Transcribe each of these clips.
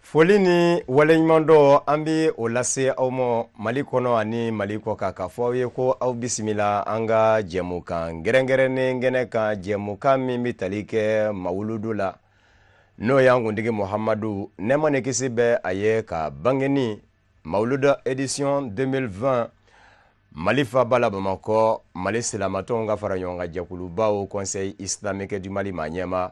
foli ni waleɲumandɔn an bɛ o lase aw ma mali kɔnɔ ani mali kɔ kan k'a fɔ aw ye ko aw bisimila an ka jɛmukan kɛrɛnkɛrɛnnen kɛnɛ kan jɛmukan min bɛ tali kɛ mawuludu la n'o y'an kuntigi muhamadu nɛɛma ni kisi bɛ a ye ka bangeni mawuluda édition 2020 mali faba la bamakɔ mali silamatɔnw ka fara ɲɔgɔn kan jɛkuluba haut conseil islamique du mali ma ɲɛma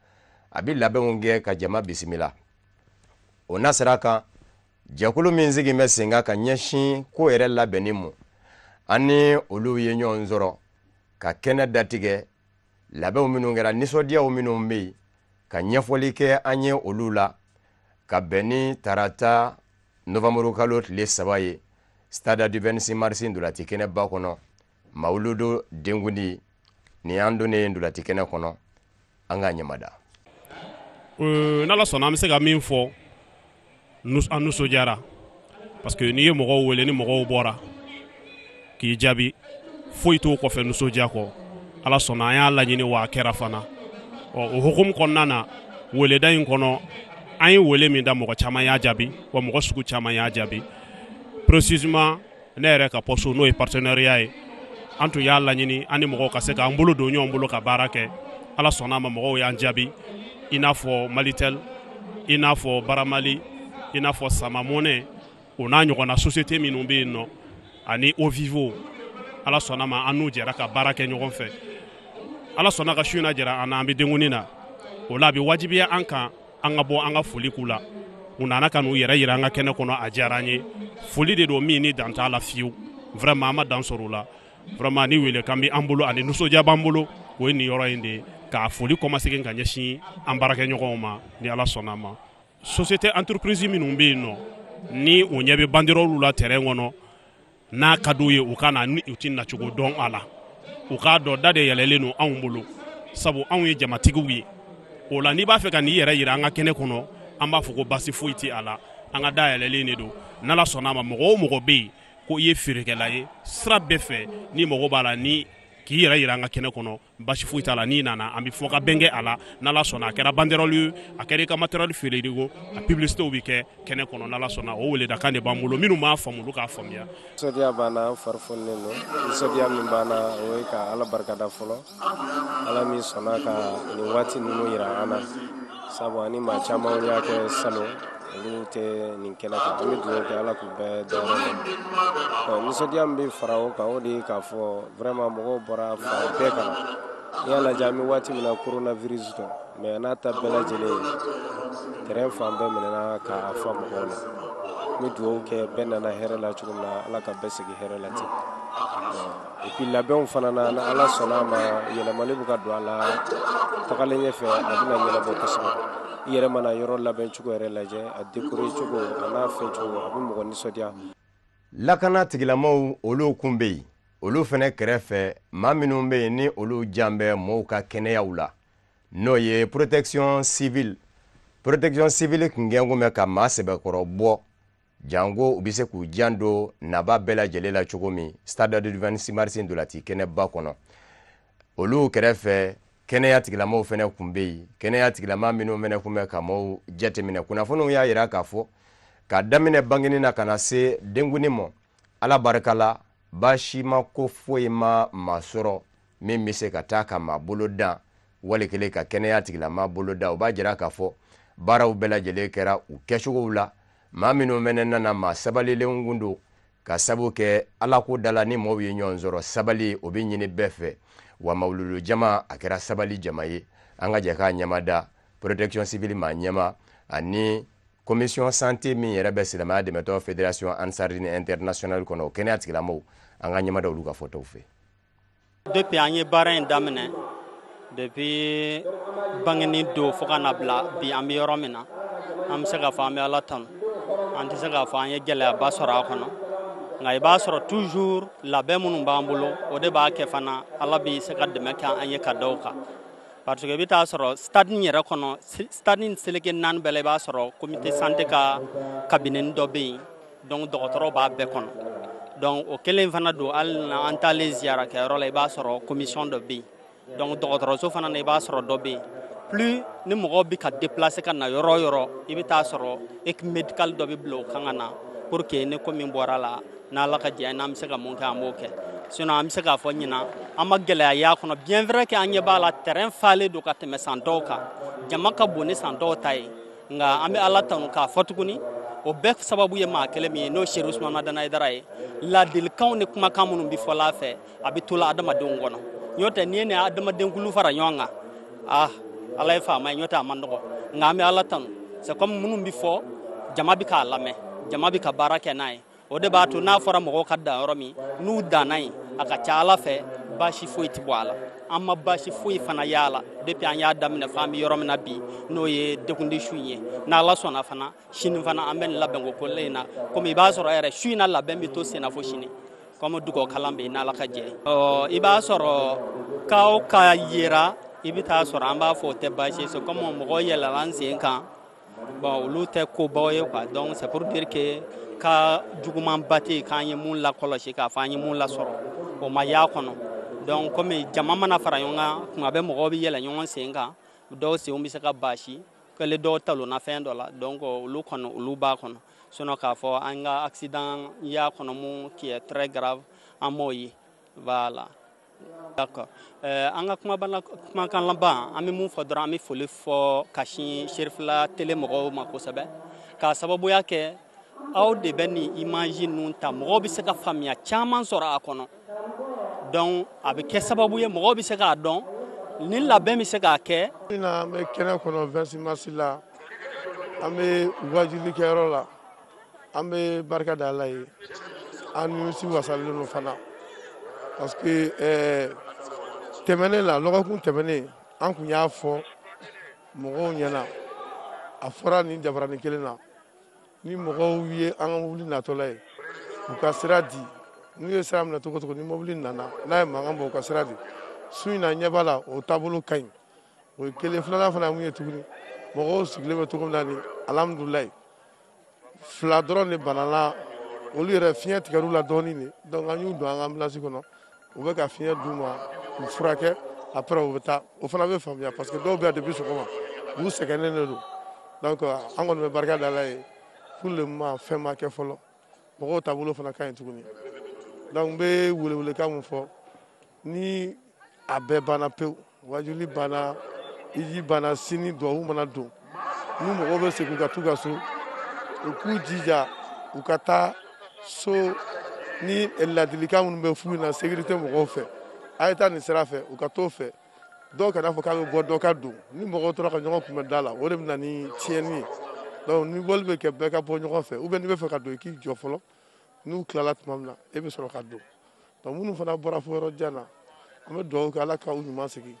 a bɛ labɛnw kɛ ka jama bisimila o nasira kan jɛkulu min sigi bɛ sen kan ka ɲɛsin ko yɛrɛ labɛnni ma an ni olu ye ɲɔgɔn sɔrɔ ka kɛnɛ datigɛ labɛnw minnu kɛra nisɔndiyaw minnu bɛ yen ka ɲɛfɔli kɛ an ye olu la ka bɛn ni tarata novanburukalo tile saba ye stade du 26 mars ntolaci kɛnɛba kɔnɔ mawuludu denkundi nin an donnen ye ntolaci kɛnɛ kɔnɔ an ka ɲɛmada euh, n'ala sɔnna an bɛ se ka min fɔ an nisɔndiyara parce que n'i ye mɔgɔw wele ni mɔgɔw bɔra k'i jaabi foyi t'o kɔfɛ nisɔndiya kɔ ala sɔnna an y'a laɲini wa a kɛra fana ɔ o hukumu kɔnɔna na weleda in kɔnɔ an ye wele min da mɔgɔ caman y'a jaabi wa mɔgɔ sugu caman y'a jaabi précisément ne yɛrɛ ka poste n'o ye partenariat ye an tun y'a laɲini an ni mɔgɔw ka se k'an bolo don ɲɔgɔn bolo ka baara kɛ ala sɔnna' ma mɔgɔw y'an jaabi i n'a fɔ malitel i n'a fɔ bramali i n'a fɔ sama money o n'a ɲɔgɔnna société minnu bɛ yen nɔ ani eau vive ala sɔnna ma an n'u jɛra ka baara kɛ ɲɔgɔn fɛ ala sɔnna ka su in na jɛra an na an bɛ denkundi na o la a bɛ wajibiya an kan an ka bɔ an ka foli k'u la u nana ka n'u yɛrɛ yira an ka kɛnɛ kɔnɔ a diyara an ye foli de don min ni dan t'a la fiyewu vraiment an ma dan sɔrɔ u la vraiment ni wele kan bɛ an bolo ani nisɔndiya b'an bolo o ye nin yɔrɔ in de ye ka foli kɔmasegin ka ɲɛsin an baarakɛɲɔgɔnw ma ni ala sɔnna ma société entreprise minnu bɛ yen nɔ ni u ɲɛ bɛ banderɔlu la terrain kɔnɔ n'a ka di u ye u ka na ni u tɛ nacogo dɔn a la u k'a dɔn da de yɛlɛlen don anw bolo sabu anw ye jamatigiw ye o la n'i b'a fɛ ka n'i yɛrɛ yira an ka kɛnɛ kɔnɔ an b'a fɔ ko basi foyi tɛ a la an ka da yɛlɛlen de don n'ala sɔnna a ma mɔgɔ o mɔgɔ bɛ yen ko i ye feerekɛla ye sira bɛɛ fɛ n'i mago b'a la ni k'i yɛrɛ yira an ka kɛnɛ kɔnɔ basi foyi t'a la n'i nana an bɛ fɔ ka bɛn kɛ a la n'ala sɔnna a kɛra banderɔli ye a kɛra i ka matériel feereli ko a publicitew bɛ kɛ kɛnɛ kɔnɔ n'ala sɔnna o weledakan de b'an bolo minnu m'a faamu olu k'a faamuya. nisɔndiya b'an na an fari fonilen don nisɔndiya min b'an na o ye ka ala barikada fɔlɔ ala min sɔnna ka nin waati ninnu yira an na sabu an ni maa caman y'a kɛ salon olu tɛ nin kɛnɛ kan an bɛ dugawu kɛ ala k'u bɛɛ dɔn nisɔndiya min bɛ fara o kan o de ye k'a fɔ vraiment mɔgɔw bɔra fan bɛɛ kan n'i y'a lajɛ an bɛ waati min na coronavirus don mais n'a ta bɛɛ lajɛlen ye terrain fan bɛɛ minɛna k'a fa mɔgɔw la n bɛ dugawu kɛ bɛɛ nana hɛrɛ la cogo min na ala ka bɛɛ segin hɛrɛ la ten Et puis labɛnw fana na ni ala sɔnna a ma yɛlɛmali bɛ ka don a la tagalen ɲɛ fɛ a bɛna yɛlɛma kosɛbɛ i yɛrɛ mana yɔrɔ labɛn cogo yɛrɛ lajɛ a décorer cogo a n'a fɛn cogo a bɛ mɔgɔ nisɔndiya lakana tigilamaw olu kun bɛ yen olu fana kɛrɛfɛ maa minnu bɛ yen ni olu jan bɛ mɔɔw ka kɛnɛyaw la n'o ye protection civile protection civile kun kɛ kun bɛ ka maa sɛbɛkɔrɔ bɔ janko u bɛ se k'u jan don nabaa bɛɛ lajɛlen la cogo min stade du 26 mars ntolaci kɛnɛba kɔnɔ olu kɛrɛfɛ kɛnɛya tigilamaw fana kun bɛ yen kɛnɛya tigilama minnu fana kun bɛ ka maaw jateminɛ kunnafoniw y'a jira k'a fɔ ka daminɛ bangeni na ka na se denkunni ma ala barika la baasi ma ko foyi ma maa sɔrɔ min bɛ se ka taa ka maa bolo dan wali kelen ka kɛnɛya tigilama bolo dan o b'a jira k'a fɔ baaraw bɛɛ lajɛlen kɛra u kɛcogow la maa minnu fana nana maa sabalilenw kun don ka sabu kɛ alako da la ni mɔɔw ye ɲɔgɔn sɔrɔ sabali o bɛ ɲini bɛɛ fɛ wa mawuludu jama a kɛra sabali jama ye an ka jɛ k'a ɲɛmada protection civile maa ɲɛmaa ani commission santé min yɛrɛ bɛ silamɛya dɛmɛtɔn fédération ansar dine internationale kɔnɔ o kɛnɛya tigilamaw an ka ɲɛmada olu ka fɔtaw fɛ depuis an ye baara in daminɛ depuis bangeni don fo ka na bila bi an bɛ yɔrɔ min na an bɛ se k'a fɔ an bɛ ala tanu an tɛ se k'a fɔ an ye gɛlɛyaba sɔrɔ a kɔnɔ nka i b'a sɔrɔ toujours labɛn minnu b'an bolo o de b'a kɛ fana ala bɛ se ka dɛmɛ kɛ an ye ka da o kan parce que i bɛ taa sɔrɔ stade in yɛrɛ kɔnɔ stade in seleke naani bɛɛ la i b'a sɔrɔ comité santé ka cabinet dɔ bɛ yen donc dɔgɔtɔrɔw b'a bɛɛ kɔnɔ donc o kelen fana don hali na an taalen ziyara kɛyɔrɔ la i b'a sɔrɔ commission dɔ bɛ yen donc dɔgɔtɔrɔso fana na i b'a sɔrɔ dɔ bɛ yen plus ni mɔgɔw bɛ ka déplacer ka na yɔrɔ o yɔrɔ i bɛ taa sɔrɔ équipe médicale dɔ bɛ bila o kan ka na pour que ni ko min bɔra la n'ala ka diya n'an bɛ se ka mun kɛ an b'o kɛ sinon an bɛ se k'a fɔ ɲinan an ma gɛlɛya y'a kɔnɔ bien vrai que an ɲɛ b'a la terrain falen don ka tɛmɛ san tɔw kan jama ka bon ni san tɔw ta ye nka an bɛ ala tanu k'a fɔ tuguni o bɛɛ sababu ye maa kelen min ye n'o serifu usman madani ayidara ye ladilikanw ni kumakan minnu bɛ fɔla a fɛ a bɛ tola adamadenw kɔnɔ n'o tɛ n'i ye nin adamadenkulu fara ɲɔgɔn kan ah ala ye faama ye n'o tɛ a man nɔgɔ nka an bɛ ala tanu c'est kuma minnu bɛ fɔ jama bɛ k'a lamɛn jama bɛ ka baara kɛ n'a ye o de b'a to n'a fɔra mɔgɔw ka dan yɔrɔ min n'u danna yen a ka ca ala fɛ baasi foyi tɛ bɔ a la an ma baasi foyi fana y'a la depuis an y'a daminɛ fo an bɛ yɔrɔ min na bi n'o ye denkundi su in ye n'ala sɔnna fana sini fana an bɛ nin labɛn ko kelen in na komi i b'a sɔrɔ yɛrɛ su in na labɛn bɛ to senna fo sini kɔmi dugawu kalan bɛ yen n'ala ka jɛ ɔ i b'a sɔrɔ ka o ka yera i bɛ taa sɔrɔ an b'a fɔ o tɛ baasi ye c'est comme mɔgɔ yɛlɛla an sen kan bɔn olu tɛ kobaw ye quoi donc c'est pour dire que ko juguman ba tɛ yen k'an ye mun lakɔlɔsi k'a fɔ an ye mun lasɔrɔ o ma y'a kɔnɔ donc komi jama mana fara ɲɔgɔn kan tuma bɛɛ mɔgɔw bɛ yɛlɛ ɲɔgɔn sen kan dɔw senw bɛ se ka baasi kɛle dɔw talonna fɛn dɔ la donc olu kɔnɔ olu b'a kɔnɔ sinon k'a fɔ an ka accident y'a kɔnɔ mun qui est très grave an m'o ye voilà D'accord. Euh, an ka kumaba kumakan laban an bɛ mun fɔ dɔrɔn an bɛ foli fɔ ka sin Serifula tele mɔgɔw ma kosɛbɛ k'a sababuya kɛ aw de bɛ nin imaji ninnu ta mɔgɔw bɛ se ka faamuya caman sɔrɔ a kɔnɔ donc a bɛ kɛ sababu ye mɔgɔw bɛ se k'a dɔn ni labɛn bɛ se ka kɛ nin na, an bɛ kɛnɛ kɔnɔ 26 mars la an bɛ wajuli kɛyɔrɔ la. an bɛ barika da ala ye an nimisi wasalen don fana parce que eh, tɛmɛnen la lɔgɔkun tɛmɛnen an tun y'a fɔ mɔgɔw ɲɛna a fɔra nin jabaranin kelen na ni mɔgɔw ye an ka mobili natɔla ye u ka sira di n'u ye sira minɛ cogo cogo ni mobili nana n'a ye mankan bɔ u ka sira di su in na ɲɛ b'a la o taabolo ka ɲi o ye kelen filanan fana mun ye tuguni mɔgɔw sigilen bɛ cogo min na ni alihamudulilayi fila dɔrɔn de banala olu yɛrɛ fiɲɛ tigɛr'u la dɔɔnin de donc an y'u don an ka ambulance kɔnɔ u bɛ ka fiɲɛ d'u ma u furakɛ après u bɛ taa o fana bɛ faamuya parce que dɔw bɛ yan depuis sɔgɔma u sɛgɛnnen de don donc an kɔni bɛ barika da ala ye pour le moment fɛn ma kɛ fɔlɔ mɔgɔw taabolo fana ka ɲi tuguni donc n bɛ welewelekan mun fɔ ni a bɛɛ banna pewu wajuli banna hiji banna sini dugawu mana don ni mɔgɔw bɛ segin ka t'u ka so u k'u jija u ka taa so ni ladilikan minnu bɛ f'u ɲɛna sécurité mɔgɔw fɛ a ye taa nin sira fɛ u ka t'o fɛ dɔ kana fɔ k'a bɛ bɔ dɔ ka don ni mɔgɔw tora ka ɲɔgɔn kunbɛn da la o de bɛ na ni tiɲɛni ye donc ni bɔli bɛ kɛ bɛɛ ka bɔ ɲɔgɔn fɛ ou bien n'i bɛ fɛ ka don i k'i jɔ fɔlɔ n'u tilala tuma min na e bɛ sɔrɔ ka don donc minnu fana bɔra fo yɔrɔ jan na an bɛ dugawu kɛ ala ka u ɲuman segin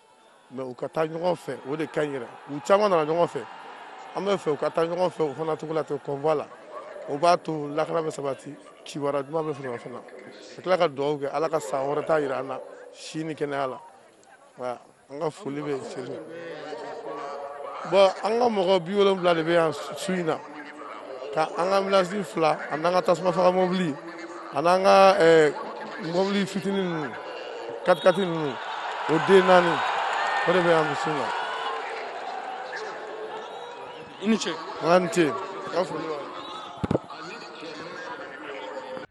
mais u ka taa ɲɔgɔn fɛ o de ka ɲi yɛrɛ u caman nana ɲɔgɔn fɛ an bɛ fɛ u ka taa ɲɔgɔn fɛ o fana cogo la ten convoi la o b'a to lakana bɛ sabati kibaruya duman bɛ sɔrɔ fana ka tila ka dugawu kɛ ala ka san wɛrɛ ta jira an na si ni kɛnɛya la an ka foli bɛ seli bɔn an ka mɔgɔ bi wolonwula de bɛ yan su in na ka an ka ambilansi fila a n'an ka tasuma faga mɔbili a n'an ka eh, mɔbili fitinin ninnu katikati ninnu o den naani o de bɛ yan su in na i ni ce an ni ce ka foli b'a ye.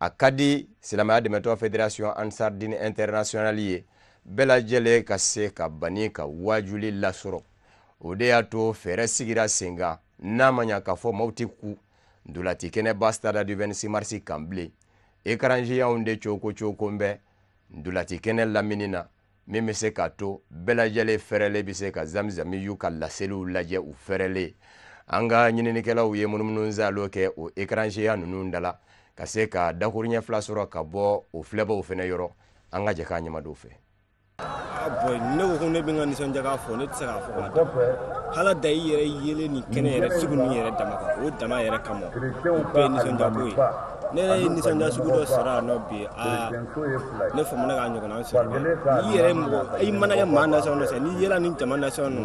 a ka di silamɛya dɛmɛtɔn federation ansar din international ye bɛɛ lajɛlen ka se ka bani ka waajuli lasɔrɔ o de y'a to fɛɛrɛ sigira sen kan n'a ma ɲa k'a fɔ maaw tɛ kun ntolati kɛnɛba stade du 26 marisi kan bilen ekaranziyanw de cooko cooko n bɛ ntolati kɛnɛ lamini na min bɛ se k'a to bɛɛ lajɛlen fɛrɛlen bɛ se ka zamizami y'u ka laseliw lajɛ u fɛrɛlen an ka ɲininikɛlaw ye munumunusaalo kɛ o ekaranziyan ninnu da la ka se ka dakuruɲɛ fila sɔrɔ ka bɔ o filɛbaw fɛnɛ yɔrɔ an ka jɛ k'an ɲɛ mad'o fɛ bɔn ne ko ko ne bɛ n ka nisɔndiyako fɔ ne tɛ se k'a fɔ ka dan ala da i yɛrɛ yelen ni kɛnɛ yɛrɛ sugu ninnu yɛrɛ dama kan o dama yɛrɛ kama o bɛɛ ye nisɔndiyako ye ne yɛrɛ ye nisɔndiya sugu dɔ sɔrɔ yan nɔ bi aa ne famana k'a ɲɔgɔnna sɔrɔ dɛ n'i yɛrɛ ye mɔgɔ i mana kɛ maa nasɔn dɔ fɛ n'i yɛlɛ ni jama nasɔn nɔ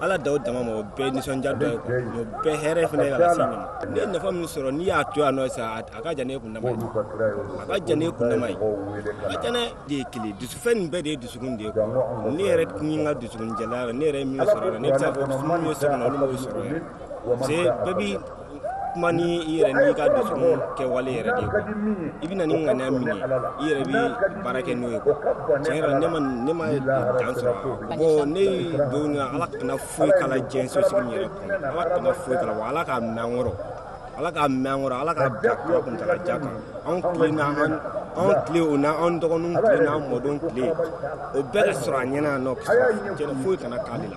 ala da o dama ma o bɛɛ ye nisɔndiya dɔ ye kuwa o bɛɛ hɛrɛ fana ye ka lase ɲɛ ma ne ye nafa min sɔrɔ n'i y'a to yan nɔ sa a a ka jan ne kun dama ye a ka jan ne kun dama ye a ka jan ne de ye kelen dusufɛn nin bɛɛ de ye dusukun de ye kuwa ne yɛrɛ kun ye n ka dusukun jɛlenya ye ne yɛrɛ ye min sɔrɔ yan ne bɛ se k'a fɔ minnu ye sɔrɔ yan olu m'o sɔrɔ yan parce que bɛɛ bi kuma ni i yɛrɛ n'i ka dusukun kɛwale yɛrɛ de ye i bɛ na ni ŋaniya min ye i yɛrɛ bɛ baara kɛ n'o ye kuwa tiɲɛ yɛrɛ ne ma ne ma dan sɔrɔ bɔn ne don na ala kana foyi k'a la diɲɛ sosigi min yɛrɛ kɔnɔ ala kana foyi k'a la wa ala k'a mɛɛn an kɔrɔ ala k'a mɛɛn an kɔrɔ ala k'a bila kura kuntala jan kan anw tile na an anw tile o na anw dɔgɔninw tile na an mɔdenw tile o bɛɛ ka sɔrɔ a ɲɛ na yan nɔ foyi kana k'ale la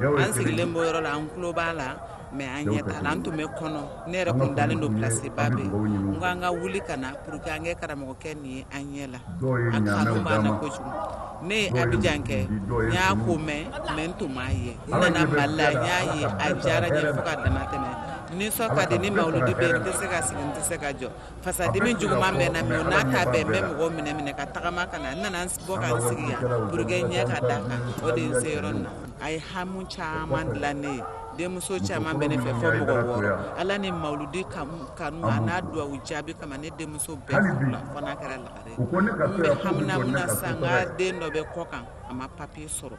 an sigilen b'o yɔrɔ la an tulo b'a la mɛ an ɲɛ t'a la an tun bɛ kɔnɔ ne yɛrɛ kun dalen don pilasiba bɛ n ko an ka wuli ka na pour que an kɛ karamɔgɔkɛ nin ye an ɲɛ la a kanu b'an na kojugu ne ye abijan kɛ n y'a ko mɛn mɛ n tun m'a ye n nana mali la n y'a ye a diyara n ye fo ka dama tɛmɛ nisɔn ka di ni mawuludi bɛ yen n tɛ se ka sigi n tɛ se ka jɔ fasadimi juguman bɛ n na mɛ n'a ta bɛɛ n bɛ mɔgɔw minɛ minɛ ka tagama ka na n nana n bɔ ka n sigi yan pour que n ɲɛ ka d'a kan o de ye n se yɔrɔ nin na a ye hamu caman dilan ne ye denmuso caman bɛ ne fɛ fo mɔgɔ wɔɔrɔ ala ni mawuludi kanu a n'a duwawu jaabi kama ne denmuso bɛɛ furula fo n'a kɛra lagare n bɛ hamina mun na sa n ka den dɔ bɛ kɔkan a ma papiye sɔrɔ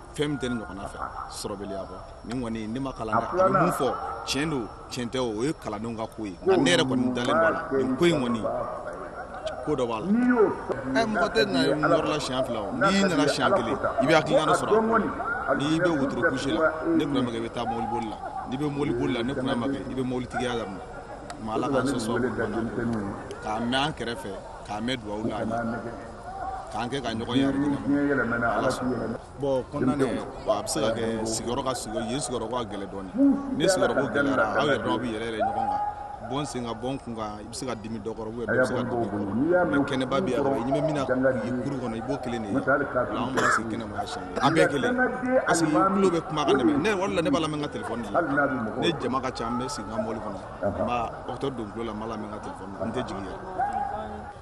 fɛn min tɛ ne ɲɔgɔnna fɛ sɔrɔbaliya kɔ nin kɔni ne ma kalan dɛ a bɛ mun fɔ tiɲɛ don tiɲɛ tɛ o ye kalandenw ka ko ye nka ne yɛrɛ kɔni dalen b'a la nin ko in kɔni ko dɔ b'a la ɛ mɔgɔ tɛ na yɔrɔ la siɲɛ fila o n'i nana siɲɛ kelen i bɛ hakilina dɔ sɔrɔ a n'i bɛ wotoro pusi la ne kunna makɛ i bɛ taa mobili boli la n'i bɛ mobili boli la ne kunna makɛ i bɛ mobili tigiya daminɛ ma ala k'an sɔsɔ k'a mɛn an kɛrɛfɛ k'a mɛn dugawu la k'an kɛ ka ɲɔgɔn ye bon kɔnɔna na a bɛ se ka kɛ sigiyɔrɔ ka sigiyɔrɔ yen sigiyɔrɔ ka gɛlɛn dɔɔni ni sigiyɔrɔ ko gɛlɛyara aw yɛrɛ dɔw bɛ yɛlɛ yɛlɛ ɲɔgɔn kan bɔn sen ka bɔn kun kan i bɛ se ka dimi dɔ kɔrɔ ou bien dɔ bɛ se ka dimi i kɔrɔ mɛ kɛnɛba bɛ yan i ɲɛ bɛ min na k'i kuru kɔnɔ i b'o kelen de ye o la anw b'a sigi kɛnɛma yan siɲɛ kelen an bɛɛ kelen parce que tulo bɛ kumakan de mɛn ne o de la ne b'a lamɛn n ka telefɔni de la ni jama ka ca n bɛ sigi n ka mɔbili kɔnɔ n bɛ écouteur don n tulo la n b'a lamɛn n ka telefɔni na n tɛ jigin yɛrɛ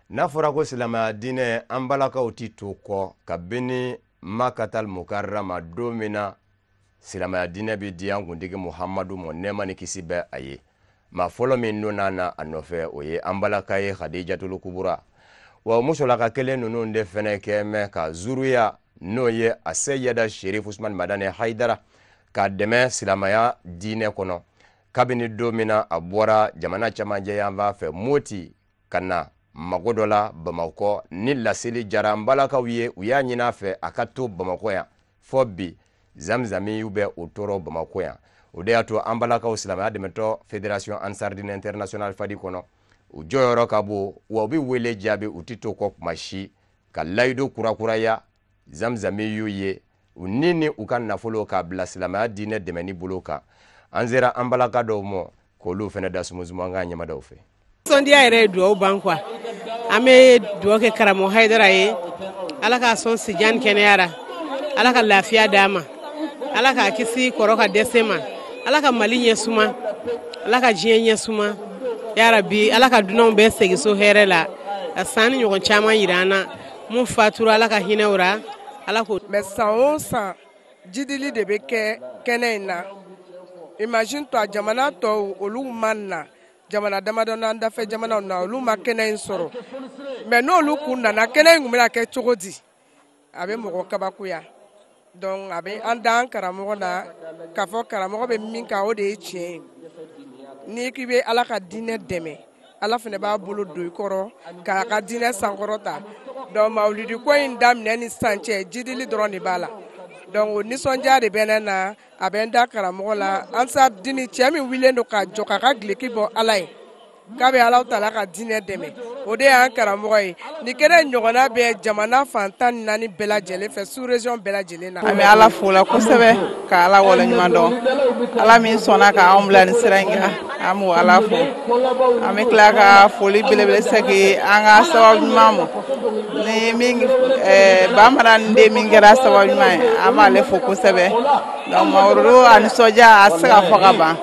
n'a fɔra ko silamɛya diinɛ an balakaw ti to kɔ kabini makatal mukarrama don min na silamɛya diinɛ bɛ di an kuntigi muhamadu ma nɛɛma ni kisi bɛ a ye maa fɔlɔ min donna na a nɔfɛ o ye an balaka ye hadijatul kubura wa musolaka kelen ninnu de fɛnɛ kɛ mɛ ka zuruya n'o ye aseyida sherif usman madani haidara ka dɛmɛ silamaya diinɛ kɔnɔ kabini don min na a bɔra jamana camancɛ yanfan fɛ moti ka na mago dɔ la bamakɔ ni laseli jara an balakaw ye u y'a ɲin'a fɛ a ka to bamakɔ yan fo bi zamzamiw bɛ o tɔɔ rɔ bamakɔ yan o de y'a to an balakaw silamɛya dɛmɛtɔ federation ansardine international fadi kɔnɔ u jɔyɔrɔ ka bon wa u bɛ wele jaabi u tɛ to kɔ kuma si ka layidu kurakuraya zamzami y'u ye u ni ni u ka nafolo k'a bila silamɛya diinɛ dɛmɛni bolo kan an sera an balaka dɔw ma k'olu fana da sumusumu an ka ɲɛmadaw fɛ sɔndiya yɛrɛ ye duwawu ban kuwa an bɛ duwawu kɛ karamɔgɔ hayidara ye ala k'a sɔn sijan kɛnɛya ra ala ka lafiya d'a ma ala k'a kisi kɔrɔ ka dɛsɛ ma ala ka mali ɲɛ suma ala ka diɲɛ ɲɛ suma yarabi ala ka dunanw bɛɛ segi so hɛrɛ la ka san nin ɲɔgɔn caman yira an na mun fatura ala ka hinɛ u ra ala k'o mɛn san o san jidili de bɛ kɛ kɛnɛ in na imagine-toi jamana tɔw olu ma na jamana damadɔ n'an dafɛ jamanaw na olu ma kɛnɛ in sɔrɔ mɛ n'olu kun nana kɛnɛ in tun bɛna kɛ cogo di a bɛ mɔgɔ kabakoya Donc a bɛ an da an karamɔgɔ la k'a fɔ karamɔgɔ bɛ min kan o de ye tiɲɛ ye ni k'i bɛ ala ka diinɛ dɛmɛ ala fana b'a bolo don i kɔrɔ k'a ka diinɛ sankɔrɔta donc mawulidi ko in daminɛ ni sisan cɛ jidili dɔrɔn de b'a la donc nisɔndiya de bɛ ne na a bɛ n da karamɔgɔ la ansardine cɛ min wilen don k'a jɔ k'a ka geleki bɔ ala ye k'a bɛ alahu tala ka diinɛ dɛmɛ o de y'an karamɔgɔ ye nin kɛnɛ ɲɔgɔnna bɛ jamana fan tan ni naani bɛɛ lajɛlen fɛ sous région bɛɛ lajɛlen na. an bɛ ala fo la kosɛbɛ ka ala waleɲuman dɔn ala min sɔnna ka anw bila nin sira in kan an b'o ala fo an bɛ tila ka foli belebele segin an ka sababu ɲuman ma ni min eh, bamanan den min kɛra sababu ɲuman ye an b'ale fo kosɛbɛ. Mawurudu a nisɔndiya a tɛ se ka fɔ ka ban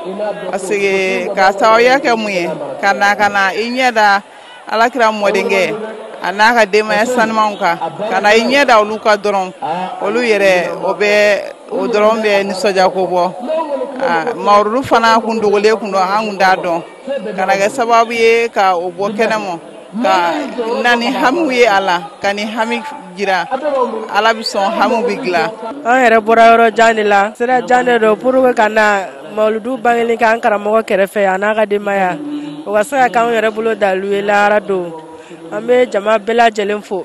parce que k'a sababuya kɛ mun ye ka na ka na i ɲɛ da ala kira mɔdenkɛ a n'a ka denbaya sanumanw kan ka na i ɲɛ da olu kan dɔrɔn olu yɛrɛ o bɛ o dɔrɔn bɛ nisɔndiya ko bɔ Mawurudu fana kun dogolen tun don an tun t'a dɔn. ka na kɛ sababu ye ka o bɔ kɛnɛ ma ka na ni hamiw ye a la ka ni hami jira ala bɛ sɔn hamiw bɛ dilan an yɛrɛ bɔra yɔrɔ jan de la sira jan de don pour que ka na mawuludu bangeli k'an karamɔgɔ kɛrɛfɛ a n'a ka denbaya o ka se ka k'an yɛrɛ bolo dalu ye lahara don an bɛ jama bɛɛ lajɛlen fo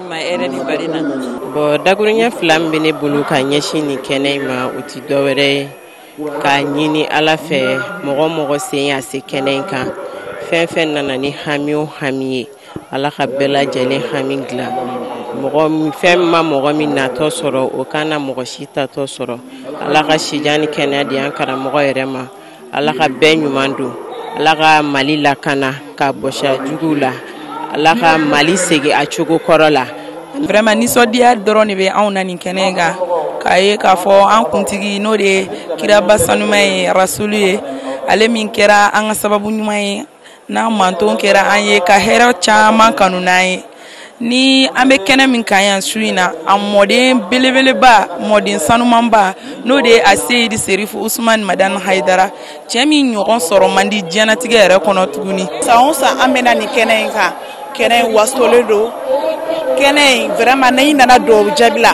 ma hɛrɛ ni bari na bon dakuruɲɛ fila min bɛ ne bolo ka ɲɛsin nin kɛnɛ in ma o ti dɔwɛrɛ ye k'a ɲini ala fɛ mɔgɔ o mɔgɔ sen y'a se kɛnɛ in kan fɛn fɛn nana ni hami o hami ye ala ka bɛɛ lajɛlen hami dilan mɔgɔ fɛn ma mɔgɔ min natɔ sɔrɔ o kana mɔgɔ si tatɔ sɔrɔ ala ka sijan ni kɛnɛya di an karamɔgɔ yɛrɛ ma ala ka bɛɛ ɲuman don ala ka mali lakana k'a bɔsi a juguw la ala ka mali segin a cogo kɔrɔ la vraiment nisɔndiya dɔrɔn de bɛ anw na nin kɛnɛ kan k'a ye k'a fɔ an kuntigi n'o de ye kiraba sanuman ye rasulu ye ale min kɛra an ka sababu ɲuman ye n'a manton kɛra an ye ka hɛrɛ caman kanu n'an ye ni an bɛ kɛnɛ min kan yan su in na a mɔden belebeleba mɔden sanumanba n'o de ye aseyidi serifu usumani madani hayidara cɛ min ɲɔgɔn sɔrɔ man di diɲɛnatigɛ yɛrɛ kɔnɔ tuguni san o san an bɛ na nin kɛnɛ in kan kɛnɛ in wasolen don kɛnɛ in vraiment n'i nana dugawu jaabila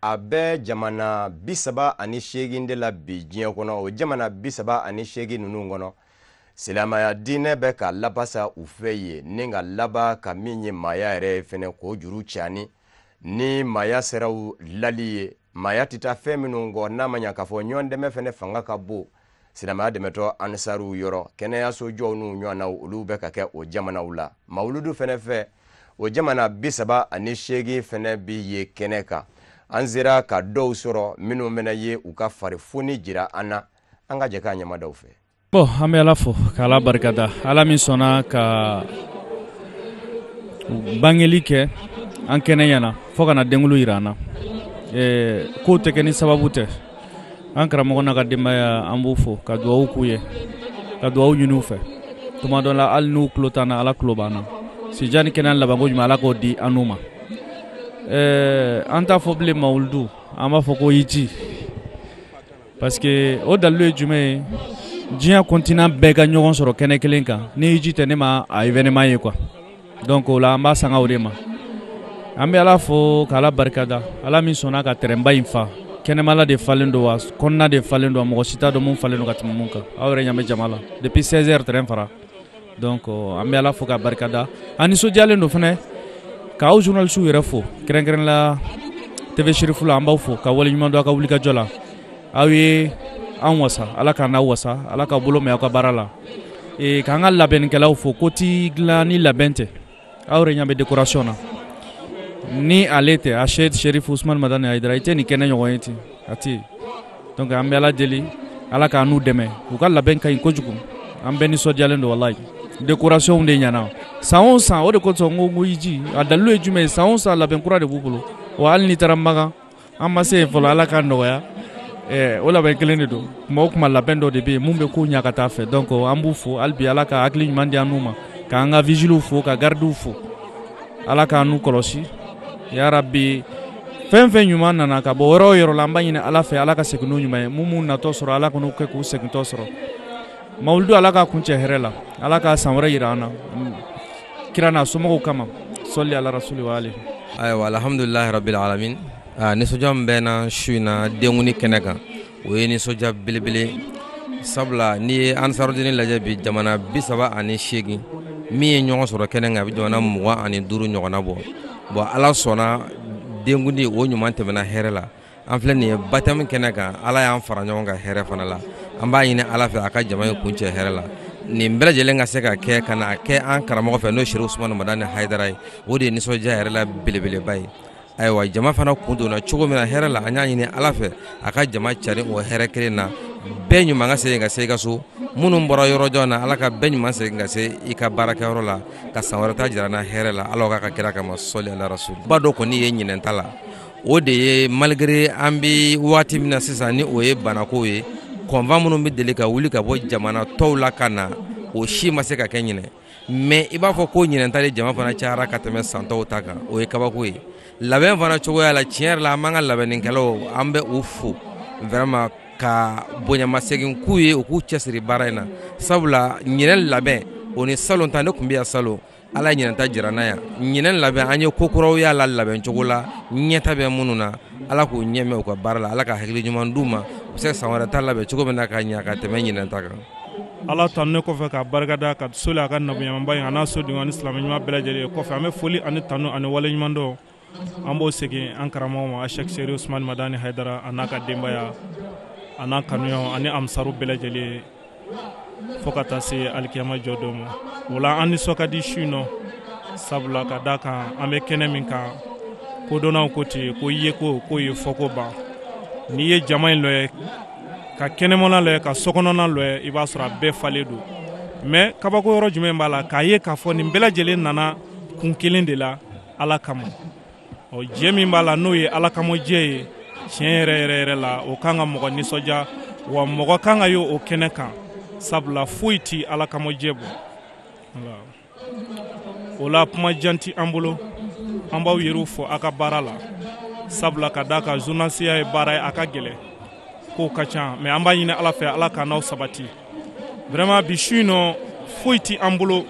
a bɛ jamana bisaba ani seegin de la bi diɲɛ kɔnɔ o jamana bisaba ani seegin ninnu kɔnɔ silamaya diinɛ bɛ ka labasa u fɛ yen ni ka laban ka min ye maaya yɛrɛ fana k'o juru cani ni maaya siraw lali ye maaya tɛ taa fɛn minnu kɔ n'a ma ɲa k'a fɔ ɲɔgɔn dɛmɛ fana fanga ka bon silamaya dɛmɛtɔ ansariw yɔrɔ kɛnɛyaso jɔw n'u ɲɔgɔnnaw olu bɛ ka kɛ o jamanaw la mawuludu fɛnɛ fɛ o jamana bisaba ani seegin fɛnɛ bi ye kɛnɛ kan an sera ka dɔw sɔrɔ minnu bɛna ye u ka farifoni jira an na an ka jɛ ka ɲɛmaa dɔw fɛ bon an bɛ ala fo ka ala barika da ala min sɔnna ka bangeli kɛ an kɛnɛ ɲɛna fɔɔ ka na denkulu jira an na ko tɛ kɛ ni sababu tɛ an karamɔgɔ n'a ka denbaya an b'u fo ka dugawu k'u ye ka dugawu ɲini u fɛ tuma dɔ la hali n'u tulo t'an na ala tulo b'an na si jan ni kɛnɛya labanko ɲuman ala k'o di an n'u ma ɛɛ an t'a fɔ bilen mawuludu an b'a fɔ ko hiji parce que o dalilu ye jumɛn ye diɲɛ continent bɛɛ ka ɲɔgɔn sɔrɔ kɛnɛ kelen kan ni hiji tɛ ne ma a événement ye quoi Donc o la an b'a sanga o de ma an bɛ ala fo k'ala barikada ala min sɔnna ka tɛrɛnba in fa kɛnɛmala de falen don wa kɔnɔna de falen don mɔgɔ si t'a dɔn mun falen don ka tɛmɛ mun kan aw yɛrɛ ɲa bɛ jama la depuis seize heures tɛrɛn fara donc an bɛ ala fo k'a barikada an nisɔndiyalen don fana k'aw journalistew yɛrɛ fo kɛrɛnkɛrɛn la TV Chérifla an b'aw fo ka waleɲuman dɔn aw ka wulikajɔ la aw ye an wasa ala k'an n'aw wasa ala ka bolo mɛn aw ka baara la k'an ka labɛnkɛlaw fo ko tɛ dilan ni labɛn tɛ aw yɛrɛ ɲa bɛ décoration na ni ale tɛ Aseyid Chérif Ousmane Madani Haidara i tɛ nin kɛnɛ ɲɔgɔn ye ten a tɛ donc an bɛ ala deli ala k'an n'u dɛmɛ u ka labɛn ka ɲi kojugu an bɛɛ nisɔndiyalen don walayi décoration de ɲɛna san o san o de kosɔn ko ko hiji a dalilu ye jumɛn ye san o san labɛn kura de b'u bolo wa hali n'i taara makan an ma se yen fɔlɔ ala k'a nɔgɔya eh, o labɛn kelen de don kuma o kuma labɛn dɔ de bɛ yen mun bɛ ko ɲa ka taa a fɛ donc an b'u fo hali bi ala ka hakili ɲuman di an n'u ma k'an ka vigiliw fo ka gardiw fo ala k'an n'u kɔlɔsi yarabi fɛn fɛn ɲuman nana ka bɔ yɔrɔ o yɔrɔ la an b'a ɲini ala fɛ ala ka segin n'u ɲuman ye mun m'u natɔ sɔrɔ ala kan'o kɛ k'u segintɔ sɔrɔ Mawuludu Ala k'a kuncɛ hɛrɛ la Ala ka san wɛrɛ jira an na kira n'a somɔgɔw kama sɔli Ala rasuli wa ali ayiwa alhamdulilahi rabili alamina aa nisɔndiya min bɛ n na su in na denkundi kɛnɛ kan o ye nisɔndiya belebele sabula n'i ye ansarudini lajɛ bi jamana bi saba ani seegin min ye ɲɔgɔn sɔrɔ kɛnɛ kan a bɛ jamana mugan ani duuru ɲɔgɔnna bɔ bon ala sɔnna denkundi o ɲuman tɛmɛna hɛrɛ la an filɛ nin ye baptême kɛnɛ kan ala y'an fara ɲɔgɔn kan hɛrɛ fana la an b'a ɲini ala fɛ a ka jama in kuncɛ hɛrɛ la nin bɛɛ lajɛlen ka se ka kɛ ka na kɛ an karamɔgɔ fɛ n'o ye Chérif Ousmane Madani Haidara ye o de ye nisɔndiya yɛrɛ la belebeleba ye ayiwa jama fana kun donna cogo min na hɛrɛ la an y'a ɲini ala fɛ a ka jama cari o hɛrɛ kelen na bɛɛ ɲuman ka segin ka se i ka so minnu bɔra yɔrɔ jan na ala ka bɛɛ ɲuman segin ka se i ka baarakɛyɔrɔ la ka san wɛrɛ ta jira an na hɛrɛ la ala k'a kɛ kira kama sɔli ala rasul ba dɔ kɔni ye ɲinɛn ta la o de ye malgré an bɛ waati min na sisan ni o ye banako ye convoi minnu bɛ deli ka wuli ka bɔ jamana tɔw la ka na o si ma se ka kɛ ɲinɛ mais i b'a fɔ ko ɲinɛ ta de jama fana cayara ka tɛmɛ san tɔw ta kan o ye kabako ye labɛn fana cogoya la tiɲɛ yɛrɛ la an b'an ka labɛnnikɛlaw an bɛ u fo vraiment ka bonyamasegin k'u ye u k'u cɛsiri baara in na sabula ɲinɛ labɛn o ni salon ta ne tun bɛ yan salon ala ye ɲinanta jira an na yan ɲinɛn labɛn an ye ko kuraw y'a la labɛn cogo la ɲɛta bɛ minnu na ala k'u ɲɛmɛ u ka baara la ala ka hakili ɲuman d'u ma u bi se ka san wɛrɛ ta labɛn cogo min na ka ɲɛ ka tɛmɛ ɲinɛn ta kan ala tanunen kɔfɛ ka barika da ka soli a ka nabiɲumanba in a n'a sodenw ani silamɛ ɲuman bɛɛ lajɛlen ye kɔfɛ an bɛ foli ani tanu ani wale ɲuman dɔn an b'o segin an karamɔgɔ ma ashek sherif usman madani haidara a n'a ka denbaya a n'a kanuɲɔgɔnw ani ansaru bɛɛ lajɛlen fo ka taa se alikiyama jɔ don ma o la an nisɔn ka di su in nɔ sabula ka da kan an bɛ kɛnɛ min kan kodɔnnaw ko ten ko yeko k'o ye fɔko ban n'i ye jama in lajɛ ka kɛnɛmana lajɛ ka sokɔnɔna lajɛ i b'a sɔrɔ a bɛɛ falen don mais kabako yɔrɔ jumɛn b'a la k'a ye k'a fɔ nin bɛɛ lajɛlen nana kun kelen de la ala kama o jɛ min b'a la n'o ye ala kama jɛ ye tiɲɛ yɛrɛ yɛrɛ yɛrɛ la o kan ka mɔgɔ nisɔndiya wa mɔgɔ kan ka ye o kɛnɛ kan sabula foyi ti ala kama jɛ bɔ o la kuma jan ti an bolo an b'aw yɛrɛw fo aw ka baara la sabula ka d'a kan journalisiya ye baara ye a ka gɛlɛn kow ka ca mais an b'a ɲini ala fɛ ala ka n'aw sabati vraiment bi su in nɔ foyi ti an bolo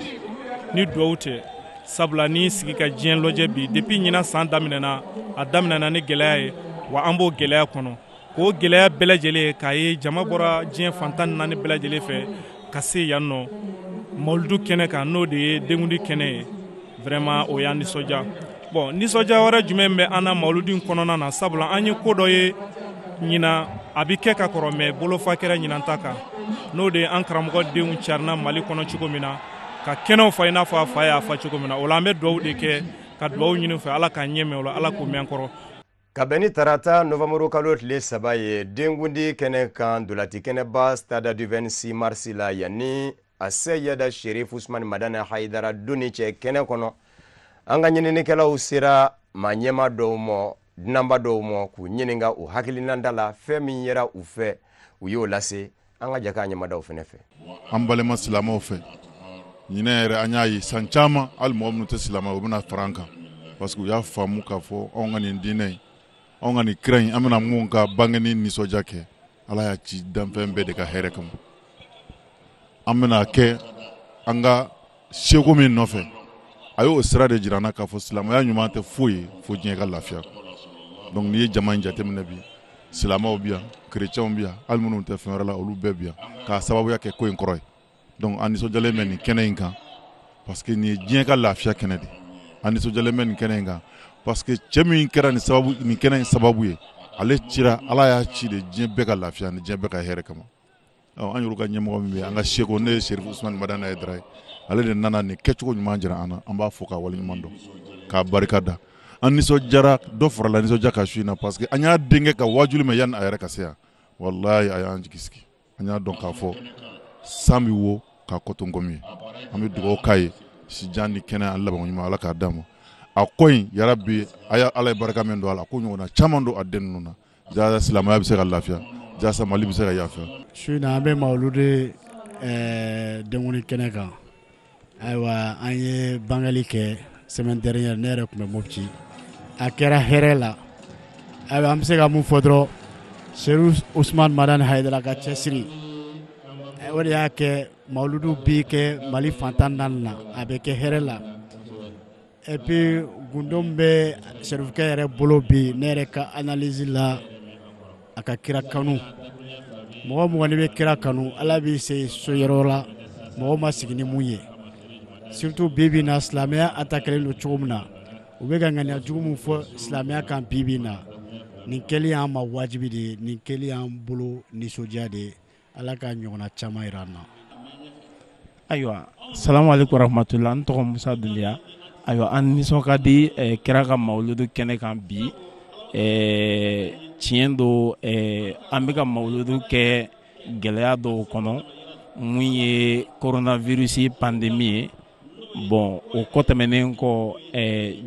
ni duwawu tɛ sabula n'i sigi ka diɲɛ lɔjɛ bi depuis ɲina san daminɛna a daminɛna ni gɛlɛya ye wa an b'o gɛlɛya kɔnɔ k'o gɛlɛya bɛɛ lajɛlen ye k'a ye jama bɔra diɲɛ fan tan naani bɛɛ lajɛlen fɛ ka se yan nɔ mawuludu kɛnɛ kan n'o de ye denkundi kɛnɛ ye vraiment o y'an nisɔndiya bon nisɔndiya wɛrɛ jumɛn bɛ an na mawuludu in kɔnɔna na sabula an ye ko dɔ ye ɲina a bi kɛ ka kɔrɔ mais bolofa kɛra ɲinan ta kan n'o de ye an karamɔgɔ denw carina mali kɔnɔ cogo min na ka kɛnɛw fa i n'a fɔ a fa y'a fa cogo min na o la an bɛ duwawu de kɛ ka duwawu ɲini fɛ ala k'a ɲɛmɛ o la ala k'u mɛn an kɔrɔ ka bɛn ni tarata novanburu kalo tile saba ye denkundi kɛnɛ kan dolati kɛnɛba stade du 26 mars la yanni aseyada sherif usumani madani hayidara donni cɛ kɛnɛ kɔnɔ an ka ɲininikɛlaw sera maa ɲɛmaa dɔw ma dunanba dɔw ma k'u ɲininka u hakilinata la fɛn min yera u fɛ u y'o lase an ka jɛ k'a ɲɛmadaw fana fɛ an balima silamɛw fɛ ɲinɛ yɛrɛ an y'a ye san caman hali mɔgɔ minnu tɛ silamɛ u bɛna fara an kan parce que u y'a faamu k'a fɔ anw ka nin diinɛ in anw ka nin kira in an bɛna min ka bangeni nisɔndiya kɛ ala y'a ci danfɛn bɛɛ de ka hɛrɛ kama an bɛna kɛ an ka seko min nɔfɛ a y'o sira de jira an na k'a fɔ silamɛya ɲuman tɛ foyi ye fo diɲɛ ka lafiya donc n'i ye jama in jateminɛ bi silamɛw bi yan kerecɛnw bi yan hali minnu tɛ fɛn wɛrɛ la olu bɛɛ bi yan k'a sababuya kɛ ko in kɔrɔ ye donc an nisɔndiyalen bɛ nin kɛnɛ in kan parce que nin ye diɲɛ ka lafiya kɛnɛ de an nisɔndiyalen bɛ nin kɛnɛ in kan parce que cɛ min kɛra nin sababu nin kɛnɛ in sababu ye ale cira ala y'a ci de diɲɛ bɛɛ ka lafiya ni diɲɛ bɛɛ ka hɛrɛ kama An yɛrɛ ka ɲɛmɔgɔ min an ka seko ne ye serifu usumani madani hayidara ye ale de nana nin kɛcogo ɲuman jira an na an b'a fɔ k'a wale ɲuman dɔn k'a barika da an nisɔndiyara dɔ farala nisɔndiya kan su in na parce que an y'a denkɛ ka wajuli mɛn yanni a yɛrɛ ka se yan walayi a y'an jigi sigi an y'a dɔn k'a fɔ san bɛ wa k'a kɔ to nkomi ye an bɛ dugawu k'a ye sijan ni kɛnɛya laban ɲuman ala k'a d'a ma a ko in yarabi ala ye barika min don a la k'o ɲɔgɔn caman don a den ninnu na Jaasa silamɛya bɛ se ka lafiya jaasa mali bɛ se ka lafiya su in na an bɛ maludu eh, denkundi kɛnɛ kan ayiwa an ye bangali kɛ semaine dernière ne yɛrɛ tun bɛ moti a kɛra hɛrɛ la ayiwa an bɛ se ka mun fɔ dɔrɔn serifu usman madani hayidara ka cɛsiri eh, o de y'a kɛ maludu bɛ kɛ mali fan tan naani na a bɛ kɛ hɛrɛ la Et puis gundo min bɛ serifukɛ yɛrɛ bolo bi ne yɛrɛ ka analyse la a ka kira kanu mɔgɔ o mɔgɔ n'i bɛ kira kanu ala b'i se so yɔrɔ la mɔgɔ ma sigi ni min ye surtout bi bi in na silamɛya attaquélen don cogo min na u bɛ ka ŋaniya jugu min fɔ silamɛya kan bi bi in na nin kɛli y'an ma wajibi de ye nin kɛli y'an bolo nisɔndiya de ye Ala ka ɲɔgɔnna caman jira an na. Ayiwa salamu alekum warahmatula n tɔgɔ Musa Dunbiya ayiwa an nisɔn ka di ɛ kira ka mawuludu kɛnɛ kan bi ɛ tiɲɛ don ɛ an bɛ ka mawuludu kɛ gɛlɛya dɔw kɔnɔ min ye coronavirus pandémie ye bon o kɔ tɛmɛnen kɔ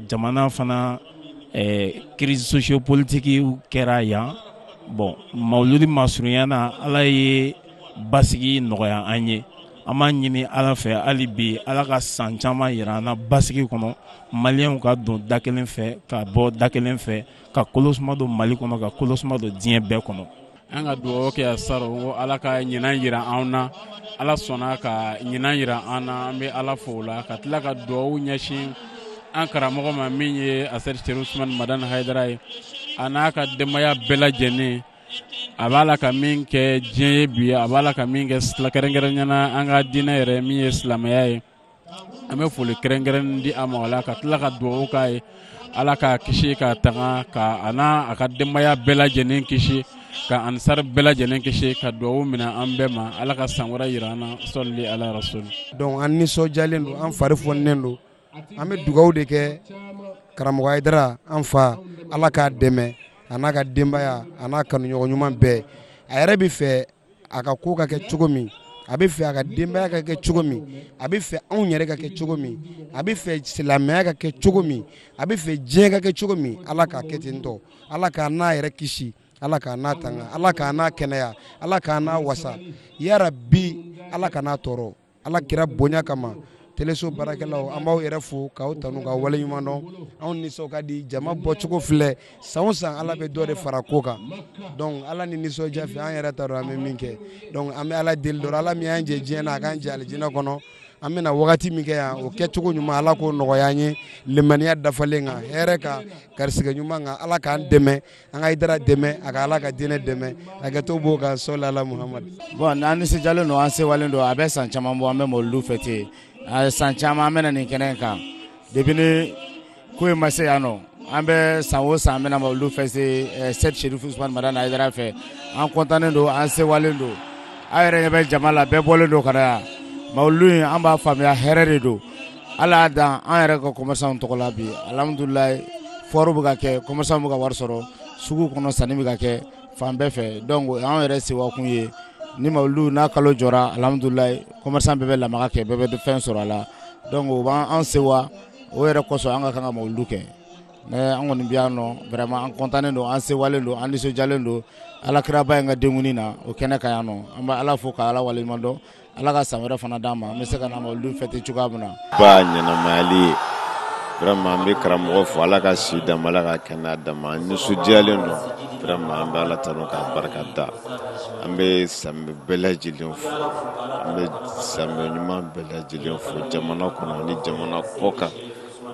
jamana fana crise sociopolitique kɛra yan bon mawuludu masurunya na ala ye basigi nɔgɔya an ye an b'a ɲini ala fɛ hali bi ala ka san caman jira an na basigi kɔnɔ maliyɛnw ka don da kelen fɛ ka bɔ da kelen fɛ ka kolosuma don mali kɔnɔ ka kolosuma don diɲɛ bɛɛ kɔnɔ an ka dugawu kɛ salon ko ala ka ɲinan jira an na ala sɔnna ka ɲinan jira an na an bɛ ala fo o la ka tila ka dugawu ɲɛsin an karamɔgɔ ma min ye asɛyidi serifu usuman madani hayidara ye a n'a ka denbaya bɛɛ lajɛlen a b'a la ka min kɛ diɲɛ ye bi a b'a la ka min kɛ kɛrɛnkɛrɛnya na an ka diinɛ yɛrɛ min ye silamɛya ye an bɛ foli kɛrɛnkɛrɛn di a ma o la ka tila ka dugawu k'a ye ala k'a kisi k'a tanga ka a n'a ka denbaya bɛɛ lajɛlen kisi ka ansari bɛɛ lajɛlen kisi ka dugawu minɛ an bɛɛ ma ala ka san wɛrɛ jira an na sɔli ala rasulu donc an nisɔndiyalen don an fari foninen don an bɛ dugawu de kɛ karamɔgɔ hayidara an fa ala k'a dɛmɛ a n'a ka denbaya a n'a kanuɲɔgɔn ɲuman bɛɛ a yɛrɛ bɛ fɛ a ka ko ka kɛ cogo min a bɛ fɛ a ka denbaya ka kɛ cogo min a bɛ fɛ anw yɛrɛ ka kɛ cogo min a bɛ fɛ silamɛya ka kɛ cogo min a bɛ fɛ diɲɛ ka kɛ cogo min ala k'a kɛ ten tɔ ala k'a n'a yɛrɛ kisi ala k'a n'a tanga ala k'a n'a kɛnɛya ala k'a n'a wasa yarabi ala kan'a tɔɔrɔ ala kira bonya kama teleso baarakɛlaw an b'aw yɛrɛ fo k'aw tanu ka waleɲuman dɔn anw nisɔn ka di jama bɔcogo filɛ san o san ala bɛ dɔ de fara ko kan donc ala ni nisɔndiya fɛ an yɛrɛ t'a dɔn an bɛ min kɛ donc an bɛ ala deli dɔrɔn ala min y'an jɛ diɲɛ na a k'an jɛ alijinɛ kɔnɔ an bɛna wagati min kɛ yan o kɛcogo ɲuman ala k'o nɔgɔya an ye limaniya dafalen kan hɛrɛ kan garisigɛ ɲuman kan ala k'an dɛmɛ an ka Ayidara dɛmɛ a ka Ala ka diinɛ dɛmɛ hakɛto b'o kan sɔli ala Muhamadu bon an nisɔndiyalen don an sewalen don a bɛ san caman bɔ an bɛ mawuludu fêter san caman an bɛ na nin kɛnɛ in kan depuis ni ko in ma se yan nɔ an bɛ san o san an bɛ na mawuludu fêter Seyidi Serifu Usumani Madani Ayidara fɛ an kɔntannen don an sewalen don aw yɛrɛ ɲɛ bɛ jama la bɛɛ bɔlen don ka na yan mawuludu in an b'a faamuya hɛrɛ de don ala y'a dan an yɛrɛ ka commerçant tɔgɔ la bi alihamudulilayi foire bɛ ka kɛ commerçant bɛ ka wari sɔrɔ sugu kɔnɔ sanni bɛ ka kɛ fan bɛɛ fɛ donc an yɛrɛ sewakun ye ni mawulu n'a kalo jɔra alihamudulilayi commerçant bɛɛ bɛ lamaga kɛ bɛɛ bɛ fɛn sɔrɔ a la donc o b'an sewa o yɛrɛ kɔsɔn an ka kan ka mawulu kɛ an kɔni bi yan nɔ vraiment an kɔntannen don an sewalen don an nisɔndiyalen don alakiraba in ka denkuni na o kɛnɛ kan yan nɔ an bɛ ala fo k'ala waleɲuman dɔn ala ka san wɛrɛ fana d'an ma an bɛ se ka na mawulu fêter cogoya min na ba ɲɛnamayali ye vraiment an bɛ karamɔgɔ fo ala ka si d'a ma ala ka kɛnɛya d'a ma an nisɔndiyalen don vraiment an bɛ ala tanu k'a barika da an bɛ silamɛ bɛɛ lajɛlen fo an bɛ silamɛ ɲuman bɛɛ lajɛlen fo jamana kɔnɔ ni jamana kɔ kan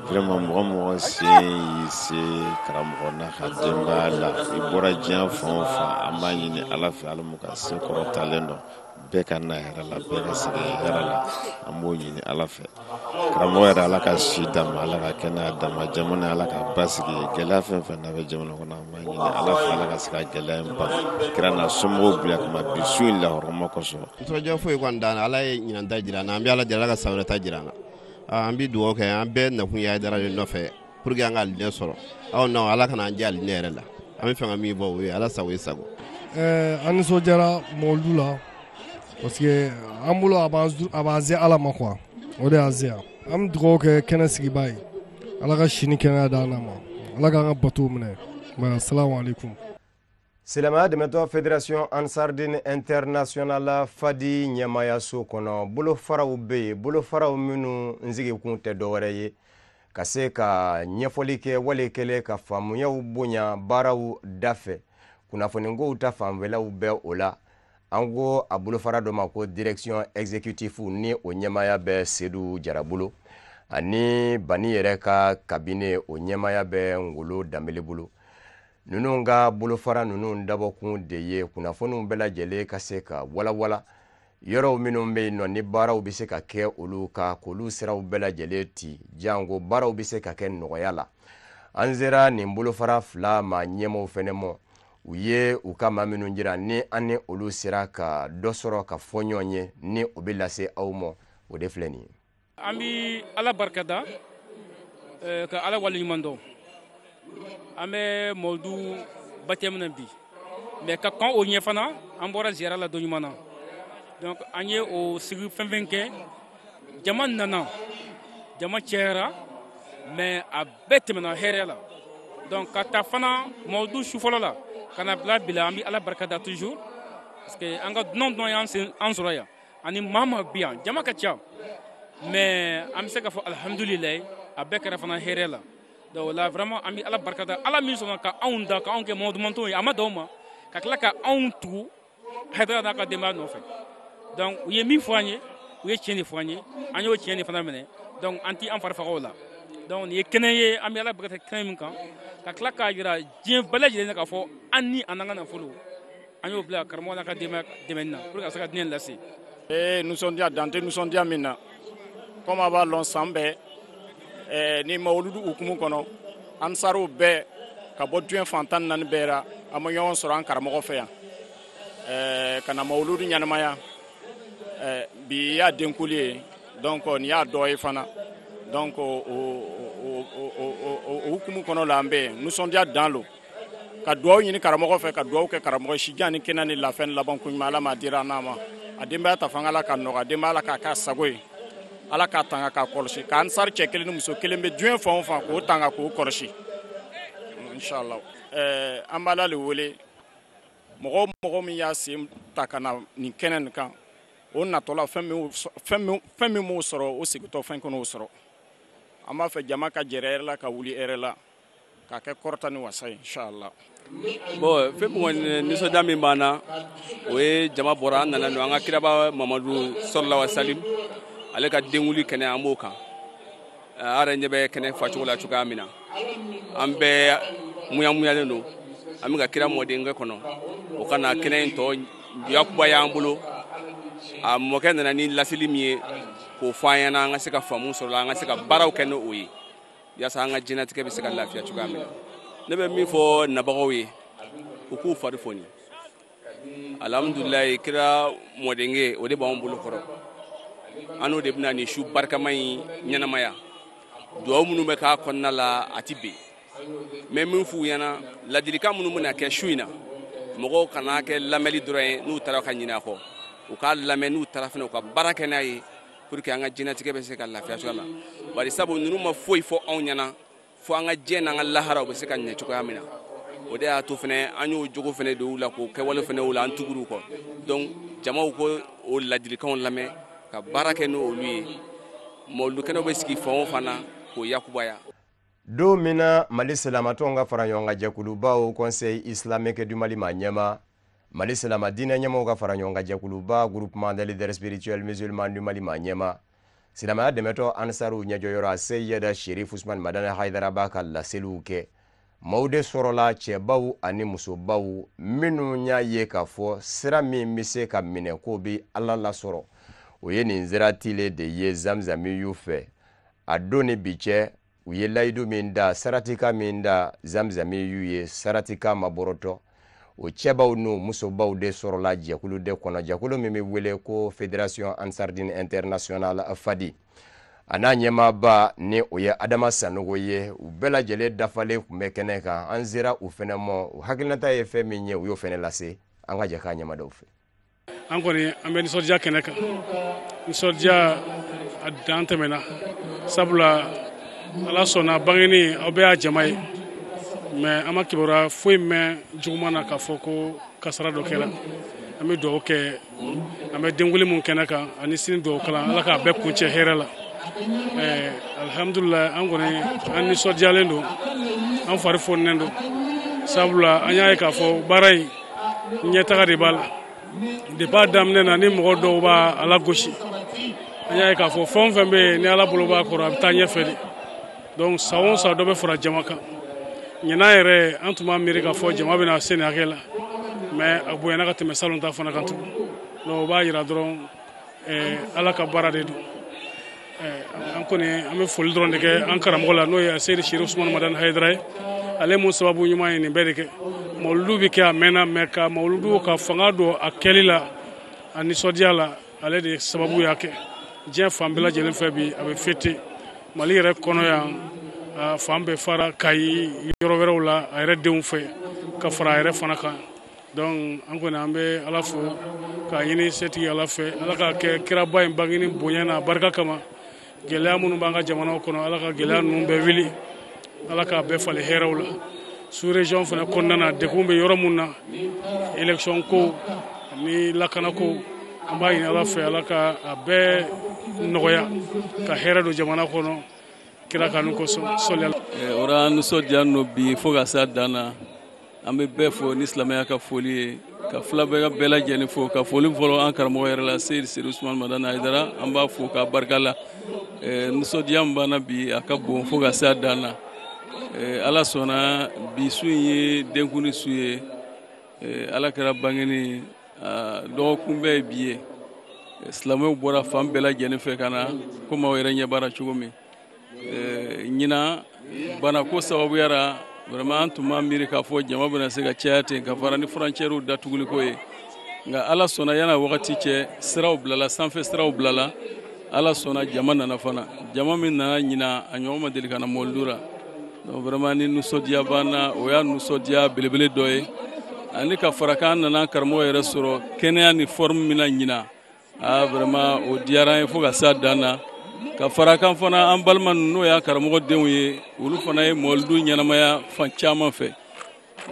vraiment mɔgɔ mɔgɔ sen y'i se karamɔgɔ n'a ka denbaya la i bɔra diɲɛ fan o fan an b'a ɲini ala fɛ ala m'u ka se kɔrɔtalen dɔn bɛɛ ka na hɛrɛ la bɛɛ ka segin hɛrɛ la an b'o ɲini ala fɛ karamɔgɔ yɛrɛ ala ka si d'a ma ala ka kɛnɛya d'a ma jamana ala k'a basigi gɛlɛya fɛn fɛn n'a bɛ jamana kɔnɔ an b'a ɲini ala fɛ ala ka se ka gɛlɛya in ban kira n'a somɔgɔw barika ma bi su in lahɔrɔma kosɔn ntɔjɔ foyi kɔni t'an na ala ye ɲinan ta jira an na an bɛ ala deli ala ka san wɛrɛ ta jira an na an bɛ dugawu kɛ an bɛɛ nakun ye ayidara de nɔfɛ pour que an ka alijinɛ sɔrɔ aw na ala kana an jɛ alijinɛ yɛrɛ la an bɛ fɛ ka min fɔ o ye ala sago i sago eh, an nisɔndiyara mɔlidu la parce que an bolo a b'an se ala ma quoi o de y'an se yan an bɛ dugawu kɛ kɛnɛ sigibaa ye ala ka si ni kɛnɛya d'an na ma ala k'an ka batow minɛ asalamu aleykum silamaya dɛmɛtɔn fédération ansardin international fadi ɲɛmayaso kɔnɔ bolofaraw bɛ yen bolofaraw minnu sigikun tɛ dɔwɛrɛ ye ka se ka ɲɛfɔli kɛ wale kɛlen ka faamuyaw bonya baaraw dafɛ kunnafonikow ta fanfɛlaw bɛ o la an ko a bolofara dɔ ma ko direction exécutive ni o ɲɛmaya bɛ sedu jara bolo ani bani yɛrɛ ka kabine o ɲɛmaya bɛ ngolo danbele bolo ninnu ka bolofara ninnu dabɔkun de ye kunnafoniw bɛɛ lajɛlen ka se ka walawala yɔrɔw minnu bɛ yen nɔ ni baaraw bɛ se ka kɛ olu kan k'olu siraw bɛɛ lajɛlen ti janko baaraw bɛ se ka kɛ nɔgɔya la an sera nin bolofara fila ma ɲɛmɔgɔw fɛnɛ ma u ye u ka maa minnu jira ni an ni olu sera ka dɔ sɔrɔ ka fɔ ɲɔgɔn ye ni o bɛ lase aw ma o de filɛ nin ye an bɛ ala barikada eh, ka ala waleɲuman dɔn an bɛ mawuludu batɛmu na bi mais ka kɔn o ɲɛ fana an bɔra ziyara la dɔɲumana donc an ye o sigi fɛn fɛn kɛ jama nana jama cɛyara mais a bɛɛ tɛmɛna hɛrɛ la donc ka ta fana mawuludu su fɔlɔ la ka na bila bi la an bɛ ala barikada toujours parce que an ka dunan dunan y'an sɔrɔ yan ani maa maa bi yan jama ka ca mais an bɛ se ka fɔ alihamudulilayi a bɛɛ kɛra fana hɛrɛ la donc o la vraiment an bɛ ala barika da ala min sɔnna ka anw da ka anw kɛ mahamadu mantonw ye a ma dan o ma ka tila ka anw tugu hayidara n'a ka denbaya nɔfɛ donc u ye min fɔ an ye u ye tiɲɛ de fɔ an ye an y'o tiɲɛ de fana minɛ donc an tɛ an fari faga o la donc nin ye kɛnɛ ye an bɛ ala barika da kɛnɛ min kan ka tila k'a jira diɲɛ bɛɛ lajɛlen na k'a fɔ an ni an n'an ka nafolo an y'o bila karamɔgɔ n'a ka denbaya dɛmɛni na pour que ka se ka diinɛ lase ee nisɔndiya dan tɛ nisɔndiya min na komi a b'a lɔn san bɛɛ eh, ni mawuludu hukumu kɔnɔ ansariw bɛɛ ka bɔ diɲɛ fan tan naani bɛɛ ra an ma ɲɔgɔn sɔrɔ an karamɔgɔ fɛ yan eh, ka na mawuludu ɲɛnamaya eh, bi y'a denkuli ye donc nin y'a dɔ ye fana donc o hukumu kɔnɔ la an bɛ nisɔndiya dan lo ka dugawu ɲini karamɔgɔ fɛ ka dugawu kɛ karamɔgɔ sijan ni kɛnɛya ni lafiya ni laban ko ɲuman ala m'a dira an n'a ma a denbaya ta fana ala ka nɔgɔya denbaya ala k'a k'a sago ye ala k'a tanga k'a kɔlɔsi ka ansari cɛ kelen ni muso kelen bɛ diɲɛ fan o fan k'o tanga k'o kɔlɔsi inshallah ɛɛ an b'ala le wele mɔgɔ o mɔgɔ min y'a sen ta ka na nin kɛnɛ nin kan o natɔla fɛn min m'o sɔrɔ o segintɔ fɛn kana o sɔrɔ an b'a fɛ jama ka jɛrɛ hɛrɛ la ka wuli hɛrɛ la k'a kɛ kɔrɔta ni wasa ye inshallah bon fɛn min nisɔndiya min b'an na o ye jama bɔra an nana an ka kiraba mamadu sallallahu alaihi wa salim ale ka denwuli kɛnɛ an b'o kan a yɛrɛ ɲɛ bɛ kɛnɛ facogo la cogoya min na an bɛɛ muyamuyalen don an bɛ ka kira mɔdenkɛ kɔnɔ o ka na kɛnɛ in tɔ yakubaya an bolo a mɔkɛ nana ni laseli min ye k'o fɔ an ɲɛna an ka se ka faamu sɔr'o la an ka se ka baaraw kɛ n'o ye yasa an ka diɲɛnatigɛ bɛ se ka lafiya cogoya min na ne bɛ min fɔ nabagaw ye u k'u fari foni alhamdulilayi kira mɔdenkɛ o de b'an bolo kɔrɔ an n'o de bɛna nin su barikama in ɲɛnamaya dugawu minnu bɛ k'a kɔnɔna la a ti ben n bɛ min f'u ɲɛna ladilikan minnu bɛna kɛ su in na mɔgɔw kana kɛ lamɛnli dɔrɔn ye n'u taara ka ɲinɛ a kɔ u k'a lamɛn n'u taara fana u ka baara kɛ n'a ye pour que an ka diɲɛnatigɛ bɛ se ka lafiya cogoya min na bari sabu ninnu ma foyi fɔ anw ɲɛna fo an ka diɲɛ n'an ka lahara u bɛ se ka ɲɛ cogoya min na o de y'a to fɛnɛ an y'o jogo fɛnɛ don u la k'o kɛwale fɛnɛ u la an tugur'u kɔ donc jamaw k'o ladilikanw lamɛn ka baara kɛ n'olu ye mawuludukɛnɛw bɛ sigi fan o fan na k'o yakubaya don min na mali silamatɔnw ka fara ɲɔgɔn kan jɛkuluba haut conseil islamique du mali maa ɲɛmaa mali silama diinɛ ɲɛmɔgɔw ka fara ɲɔgɔn kan jɛkuluba groupement des leaders spirituels musulmans du mali maa ɲɛmaa silamaya dɛmɛtɔn ansaruw ɲɛjɔyɔrɔ aseyida sherif usman madani haidara b'a ka laseliw kɛ maaw de sɔrɔla cɛbaw ani musobaw minnu y'a ye k'a fɔ sira min bɛ se ka minɛ k'o bɛ ala lasɔrɔ o ye nin sira tilen de ye zamzamiyu fɛ a don ni bi cɛ u ye layidu min da saratika min da zamzami y'u ye saratika ma bɔrɔtɔ o cɛbaw n'u musobaw de sɔrɔla jɛkulu de kɔnɔ jɛkulu min bɛ wele ko fédération ansardine internationale fadi a n'a ɲɛmaaba ni o ye adama sanogo ye u bɛɛ lajɛlen dafalen tun bɛ kɛnɛ kan an sera u fɛnɛ ma u hakilinata ye fɛn min ye u y'o fɛnɛ lase an ka jɛ k'a ɲɛmada u fɛ an kɔni an bɛ nisɔndiya kɛnɛ kan nisɔndiya a dan tɛmɛna sabula ala sɔnna bangeni aw bɛɛ y'a jama ye mais an ma kibaruya foyi mɛn juguman na k'a fɔ ko kasara dɔ kɛra an bɛ dugawu kɛ an bɛ denwuli min kɛnɛ kan ani sini dugawu kalan ala k'a bɛɛ kuncɛ hɛrɛ la alihamudulila an kɔni an nisɔndiyalen don an fari fonnen don sabula an y'a ye k'a fɔ baara in ɲɛtaga de b'a la depuis a daminɛ na ni mɔgɔ dɔw b'a lagosi an y'a ye k'a fɔ fɛn o fɛn bɛ yen ni ala bolo b'a kɔrɔ a bɛ taa ɲɛfɛ de donc san o san dɔ bɛ fara jama kan ɲinan yɛrɛ an tun m'a miiri k'a fɔ jama bɛna se nin hakɛ la mais a bonyana ka tɛmɛ salon ta fana kan tugun donc o b'a jira dɔrɔn eh, ala ka baara de don eh, an kɔni an bɛ foli dɔrɔn de kɛ an karamɔgɔ la n'o ye seyidi serifu usumani madani hayidara ye ale min sababu ɲuman ye nin bɛɛ de kɛ mawuludu bɛ kɛ a mɛnna mais ka mawuludu ka fanga don a kɛli la a nisɔndiya la ale de sababu y'a kɛ diɲɛ fan bɛɛ lajɛlen fɛ bi a bɛ fêter mali yɛrɛ kɔnɔ yan fan bɛɛ fara kayi yɔrɔ wɛrɛw la a yɛrɛ denw fɛ ka fara a yɛrɛ fana kan dɔnku an kɔni an bɛ ala fo k'a ɲini setigi ala fɛ ala k'a kɛ kiraba in bangeni bonya n'a barika kama gɛlɛya minnu b'an ka jamanaw kɔnɔ ala ka gɛlɛya ninnu bɛɛ wuli ala k'a bɛɛ falen hɛrɛw la sous-région fana kɔnɔna na degun bɛ yɔrɔ min na elekisɔn ko ni lakana ko an b'a ɲini ala fɛ ala ka a bɛɛ nɔgɔya ka hɛrɛ don jamana kɔnɔ kira kanu kosɔn sɔlila eh, o r'an nisɔndiyalen don bi fo ka se a dan na an bɛ bɛɛ fo ni silamɛya ka foli ye ka fila bɛɛ ka bɛɛ lajɛlen fo ka foli fɔlɔ an karamɔgɔ yɛrɛ la seyidi serifu usumani madani ayidara an b'a fo k'a barika la eh, nisɔndiya min b'an na bi a ka bon fo ka se a dan na eh, ala sɔnna bi su in ye denkunli su ye eh, ala kira bangeni dɔgɔkunbɛn ye bi ye silamɛw bɔra fan bɛɛ lajɛlen fɛ ka na komi aw yɛrɛ ɲɛ b'a ra cogo min eh, ɲina banako sababuya ra vraiment an tun m'a miiri k'a fɔ jama bɛna se ka caya ten ka fara ni frontières datuguliko ye nka ala sɔnna yann'a wagati cɛ siraw bilala sanfɛ siraw bilala ala sɔnna jama nana fana jama min nana ɲina a ɲɔgɔn ma deli ka na mɔlidu la donc vraiment ni nisɔndiya b'an na o y'a nisɔndiya belebele dɔ ye ani ka fara k'an nana an karamɔgɔ yɛrɛ sɔrɔ kɛnɛya ni forme min na ɲina aa vraiment o diyara an ye fo ka se a dan na ka fara kan fana an balimaw n'o y'an karamɔgɔ denw ye olu fana ye mɔlidu ɲɛnamaya fan caman fɛ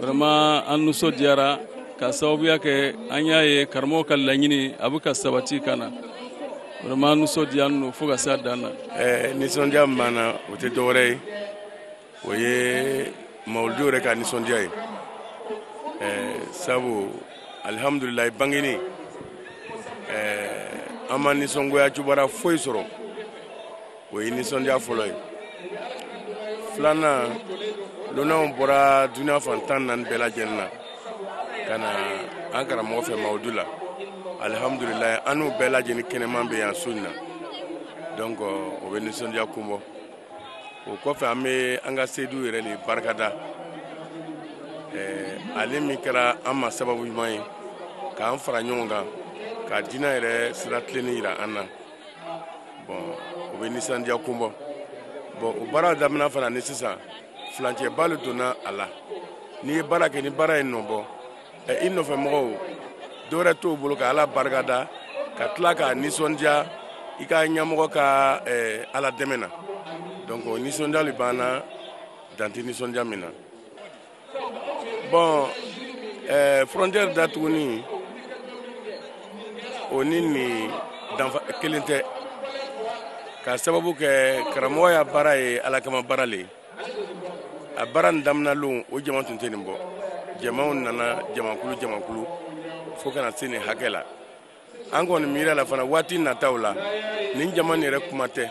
vraiment an nisɔndiyara ka sababuya kɛ an y'a ye karamɔgɔ ka laɲini a bɛ ka sabati ka na vraiment an nisɔndiyalen don fo ka se a dan na. ɛɛ nisɔndiya min b'an na o tɛ dɔwɛrɛ ye o ye mawuludu yɛrɛ ka nisɔndiya ye sabu alihamudulilayi bangeni an ma nisɔngoya kibaru foyi sɔrɔ o ye nisɔndiya fɔlɔ ye filanan lonanw bɔra duniya fan tan naani bɛɛ lajɛlen na ka na an karamɔgɔ fɛ mawuludu la alihamudulilayi an n'u bɛɛ lajɛlen kɛnɛman bɛ yan su in na donc o bɛ nisɔndiya kun bɔ o kɔfɛ an bɛ an ka seyidu yɛrɛ de barikada ale min kɛra an ma sababu ɲuman ye k'an fara ɲɔgɔn kan ka diinɛ yɛrɛ sira tilennen yira an na bɔn o bɛ nisɔndiya kun bɔ bɔn o baara daminɛ fana ni sisan furancɛba le donna a la n'i ye baara kɛ ni baara ye nɔ bɔ i nɔfɛ mɔgɔw dɔwɛrɛ t'o bolo ka ala barika da ka tila ka nisɔndiya i ka ɲɛmɔgɔ ka ala dɛmɛ na donc o nisɔndiya le b'an na dan tɛ nisɔndiya min na bon frontière datuguni o ni nin danfa kelen tɛ k'a sababu kɛ karamɔgɔ ya baara ye ala kama baara le ye a baara in damina lon o jama tun tɛ nin bɔ jamaw nana jamakulu jamakulu fo ka na se nin hakɛ la an kɔni miirila la fana waati nataw la nin jama nin yɛrɛ kuma tɛ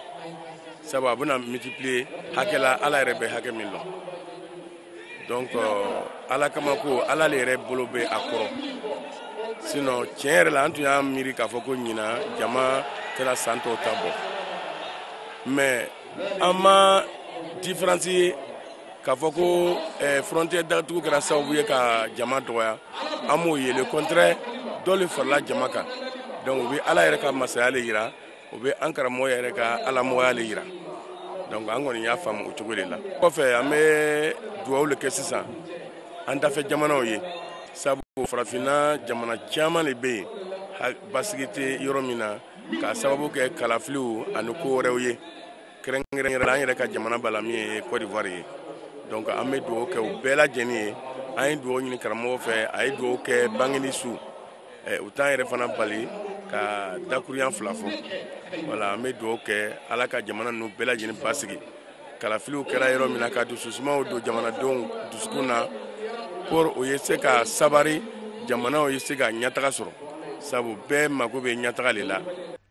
sabu a bɛna multiplier hakɛ la ala yɛrɛ bɛ hakɛ min lɔn donc euh, ala kama ko ala le yɛrɛ bolo bɛ a kɔrɔ sinon tiɲɛ yɛrɛ la an tun y'a miiri k'a fɔ ko ɲina jama tɛna san tɔw ta bɔ mais an ma différence ye k'a fɔ ko eh, frontière datugu kɛra sababu ye ka jama dɔgɔya an m'o ye le contraire dɔ le farala jama kan donc o bɛ ala yɛrɛ ka masaya le yira o bɛ an karamɔgɔ yɛrɛ ka alamɔgɔya le yira donc an kɔni y'a faamu o cogoya le la kɔfɛ an bɛ dugawu le kɛ sisan an dafɛ jamanaw ye sabu farafinna jamana caman le bɛ yen basigi tɛ yɔrɔ min na k'a sababu kɛ kalafiliw ani ko wɛrɛw ye kɛrɛnkɛrɛnnenya la an yɛrɛ ka jamana b'a la min ye Côte d'Ivoire ye donc an bɛ dugawu kɛ u bɛɛ lajɛlen ye an ye dugawu ɲini karamɔgɔ fɛ a ye dugawu kɛ bangeni su eh, o t'an yɛrɛ fana bali ka dakuruyan fila fɔ voilà an bɛ dugawu kɛ ala ka jamana ninnu bɛɛ lajɛlen basigi kalafiliw kɛra yɔrɔ min na ka dususumaw don jamanadenw dusukun na pour u ye se ka sabari jamanaw ye se ka ɲɛtaga sɔrɔ sabu bɛɛ mago bɛ ɲɛtaga le la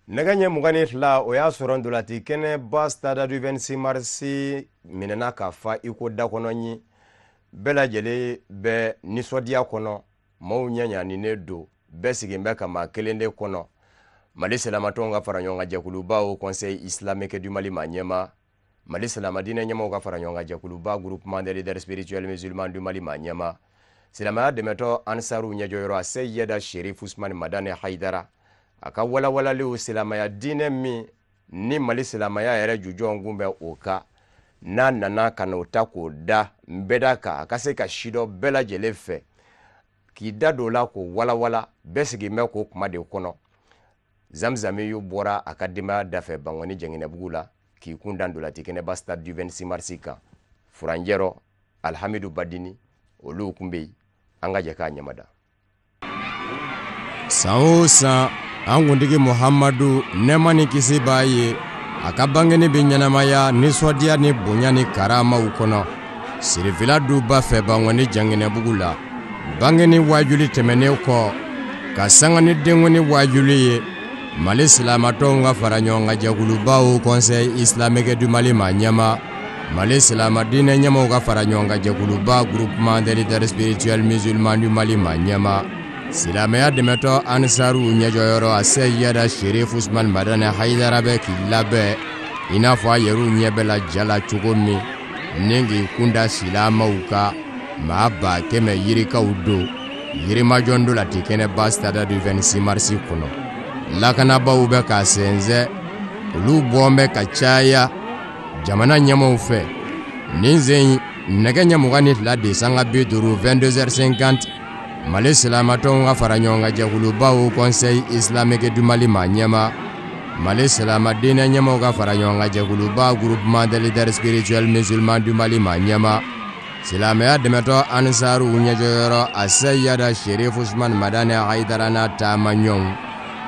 nɛgɛ ɲɛ mugan ni fila o y'a sɔrɔ ntolaci kɛnɛba stade du 26 mars minɛna ka fa i ko da kɔnɔ ɲin bɛɛ lajɛlen bɛ nisɔndiya kɔnɔ maaw ɲagalinen don bɛɛ sigin bɛ ka maa kelen de kɔnɔ mali silamatɔnw ka fara ɲɔgɔn kan jɛkuluba haut conseil islamique du mali maa ɲɛmaa mali silama diinɛ ɲɛmaaw ka fara ɲɔgɔn kan jɛkuluba groupement des leaders spirituels musulmans du mali maa ɲɛmaa silamaya dɛmɛtɔn ansaru ɲɛjɔyɔrɔ aseyida sherif usmani madani haidara a ka walawalaliw silamaya diinɛ min ni mali silamaya yɛrɛ jujɔn kun bɛ o kan a nana ka n'o ta k'o da nbɛda kan a ka se ka sidɔn bɛɛ lajɛlen fɛ k'i da don o la k'o walawala bɛɛ sigilen bɛ k'o kuma de kɔnɔ zamzamiyu bɔra a ka denbaya dafɛ bankɔni janginɛbugu la k'i kun da ntolaci kɛnɛba stade du 26 mars kan furancɛ rɔ alhamidu badini olu kun bɛ yen an ka jɛ k'a ɲamada san o san an kuntigi muhamadu nɛɛma ni kisi b'a ye a ka bangeni bɛ ɲɛnamaya nisɔndiya ni bonya ni karamaw kɔnɔ sirifila duba fɛ bangɔni janginɛbugu la bangeni waajuli tɛmɛnen kɔ ka sanga ni denkuni waajuli ye mali silamatɔnw ka fara ɲɔgɔn kan jɛkuluba haut conseil islamique du mali ma ɲɛma Mali silamɛ diinɛ ɲɛmaw ka fara ɲɔgɔn kan jɛkuluba groupement des leaders spirituels musulmans du Mali ma ɲɛma silamɛya dɛmɛtɔn ansaru ɲɛjɔyɔrɔ aseyida sherif usman madani hayidara bɛ k'i labɛn i n'a fɔ a yɛrɛw ɲɛ bɛ la ja la cogo min ni k'i kunda silamɛw kan maa ba kɛmɛ yirikaw don yirimajɔ ntolaci kɛnɛba stade du 26 mars kɔnɔ lakanabaaw bɛ k'a sɛnsɛn olu bɔn bɛ ka caya jamana ɲɛmaw fɛ nin sen in nɛgɛ ɲɛ mugan ni fila de sanga bi duuru 22h50 mali silamatɔnw ka fara ɲɔgɔn kan jɛkuluba haut conseil islamique du mali ma ɲɛma mali silama diinɛ ɲɛmaw ka fara ɲɔgɔn kan jɛkuluba groupement des leaders spirituels musulmans du mali ma ɲɛma silamɛya dɛmɛtɔn ansaru ɲɛjɔyɔrɔ aseyida sherif usman madani hayidara n'a taama ɲɔgɔnw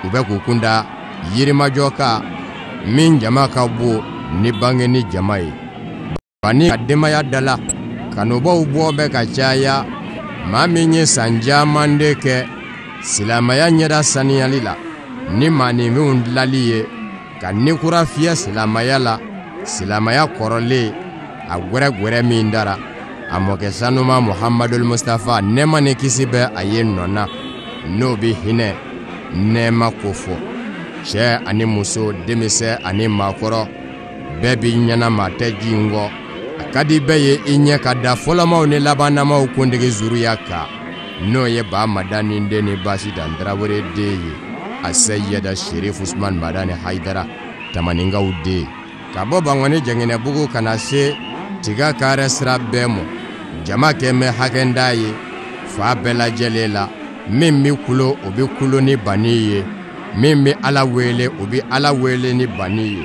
u bɛ k'u kunda yirimajɔ kan min jama ka bon ni bangeni jama ye bani ka denbaya dala kanubaw bɔ bɛ ka caya maa min ye san caman de kɛ silamɛya ɲɛda saniyali la ni maaninfinw dilali ye ka ni kura fiyɛ silamaya la silamaya kɔrɔlen a gwɛrɛgwɛrɛ min dara a mɔkɛ sanuman muhamadul mustafa nɛɛma ni kisi bɛ a ye nɔ na n'o bɛ hinɛ nɛɛma kofɔ cɛ ani muso denmisɛn ani maakɔrɔ bɛɛ b'i ɲɛ na maa tɛ jingɔ a ka di bɛɛ ye i ɲɛ ka da fɔlɔmaw ni labannamaw kuntigi zuruya kan n'o ye ba madani den ni basitan tarawele den ye aseyida sherif usman madani hayidara tamaninkaw den ka bɔ bangɔni janginɛbugu ka na se tiga karɛ sira bɛɛ ma jama kɛ bɛ hakɛ da ye fa bɛɛ lajɛlen la min bɛ kulo o bɛ kulo ni bani ye min bɛ ala wele o bɛ ala wele ni bani ye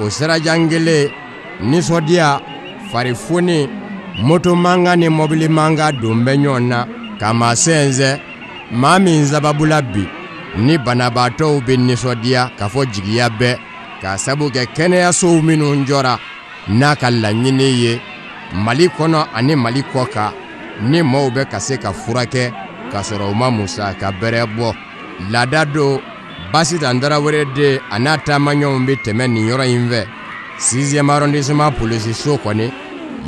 o sirajan kelen nisɔndiya fari foni moto mankan ni mɔbili mankan don bɛ ɲɔgɔn na ka maa sɛnsɛn maa min sababula bi ni banabaatɔw bɛ nisɔndiya ka fɔ jigiya bɛɛ k'a sabu kɛ kɛnɛyasow minnu jɔra n'a ka laɲini ye mali kɔnɔ ani mali kɔ kan ni maaw bɛ ka se ka furakɛ k'a sɔrɔ u ma musaka bɛrɛ bɔ laada don basitan tarawele den a n'a taamaɲɔgɔnw bɛ tɛmɛ nin yɔrɔ in fɛ sixième arrondissement polisiso kɔni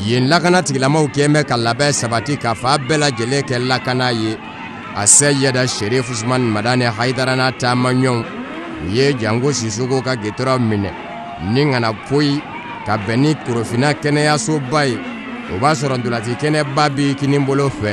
yen lakana tigilamaw kɛn bɛ ka labɛn sabati ka fan bɛɛ lajɛlen kɛ lakana ye aseyida sherif usman madani hayidara n'a taamaɲɔgɔnw u ye jango sisoko ka gitɔrɔn minɛ ni ka na poyi ka bɛn ni korofina kɛnɛyasoba ye o b'a sɔrɔ ntolaci kɛnɛba b'i kinibolo fɛ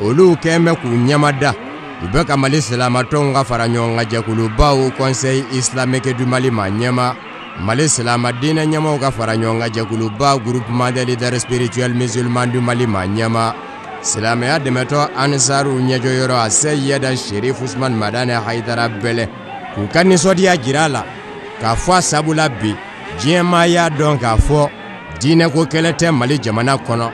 olu kɛn bɛ k'u ɲɛmada u bɛ ka mali silamatɔnw ka fara ɲɔgɔn kan jɛkuluba haut conseil islamique du mali maa ɲɛmaa mali silama diinɛ ɲɛmaaw ka fara ɲɔgɔn kan jɛkuluba groupement des leaders spirituels musulmans du mali maa ɲɛmaa silamɛya dɛmɛtɔn ansaru ɲɛjɔyɔrɔ aseyida sherif usman madani hayidara bɛlɛn k'u ka nisɔndiya jira a la k'a fɔ a sabu la bi diɲɛmaa y'a dɔn k'a fɔ diinɛ ko kɛlɛ tɛ mali jamana kɔnɔ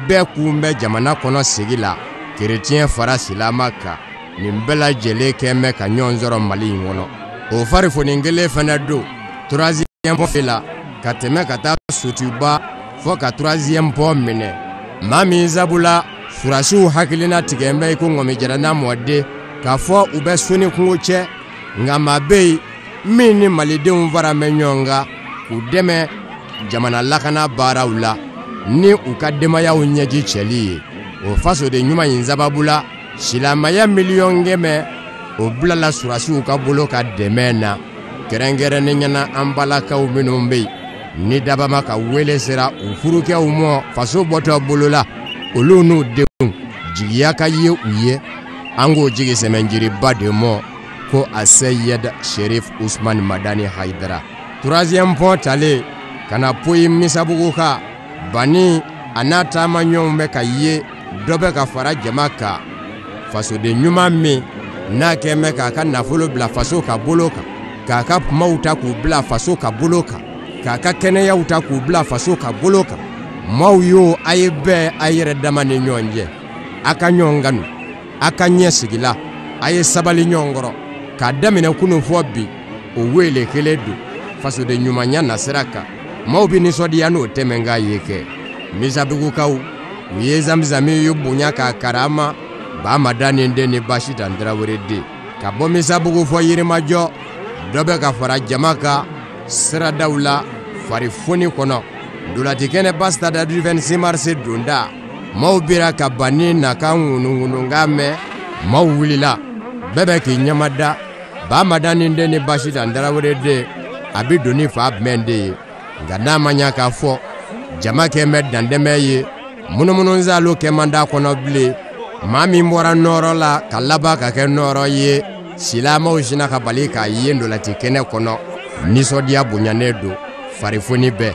bɛɛ kun bɛ jamana kɔnɔ sigi la kereciyɛn fara silama kan nin bɛɛ lajɛlen kɛn bɛ ka ɲɔgɔn sɔrɔ mali in kɔnɔ o farifoni kelen fana don troisième pont la ka tɛmɛ ka taa sotuba fɔ ka troisième pont minɛ maa min sabula surasiw hakilina tigɛn bɛ i ko ŋɔmi jara n'a mɔden k'a fɔ u bɛ soni kungo cɛ nka maa bɛ yen min ni malidenw fara bɛ ɲɔgɔn kan k'u dɛmɛ jamana lakana baaraw la ni u ka denbayaw ɲɛji cɛli ye o fasoden ɲuman in sababu la silamaya miliyɔn kɛmɛ o bilala surasiw ka bolo kan dɛmɛ na kɛrɛnkɛrɛnnenya na an balakaw minnu bɛ yen ni dabaa maa ka wele sera u furukɛw mɔ faso bɔtɔ bolo la olu n'u denw jigiya ka ye u ye an k'o jigi sɛmɛjiriba de mɔ ko aseyidi serif usman madani hayidara troisième pont talen ka na poyi misabugu kan bani a n'a taamaɲɔgɔnw bɛ ka ye dɔ bɛ ka fara jama kan fasoden ɲuman min n'a kɛn bɛ k'a ka nafolo bila faso ka bolo kan k'a ka kumaw ta k'u bila faso ka bolo kan k'a ka kɛnɛyaw ta k'u bila faso ka bolo kan maaw yo a ye bɛn a yɛrɛ dama ni ɲɔgɔn cɛ a ka ɲɔgɔn kanu a ka ɲɛ sigila a ye sabali ɲɔgɔn kɔrɔ k'a daminɛ kunun fɔ bi o weele kelen don fasoden ɲumanya nasira kan maaw bɛ nisɔndiya n'o tɛmɛn k'a ye kɛ misabugukaw u ye zamizami ye bonya k'a karama ba madani den ni basitan tarawele den ka bɔ misabugu fɔ yirimajɔ dɔ bɛ ka fara jama kan siradaw la farifoni kɔnɔ ntolacikɛnɛba stade du vingt-six mars donda maaw bira ka ban ni na ka ŋunuŋununkan mɛn maaw wulila bɛɛ bɛ k'i ɲɛmada ba madani den ni basitan tarawele den a bɛ don ni fa bɛn de ye nka n'a ma ɲa k'a fɔ jama kɛn bɛ dantɛmɛ ye munumununzalo kɛ man d'a kɔnɔ bilen maa min bɔra nɔɔrɔ la ka laban ka kɛ nɔɔrɔ ye silamɛw sina ka bali k'a ye ndolati kɛnɛ kɔnɔ nisɔndiya bonyanen don farifoni bɛɛ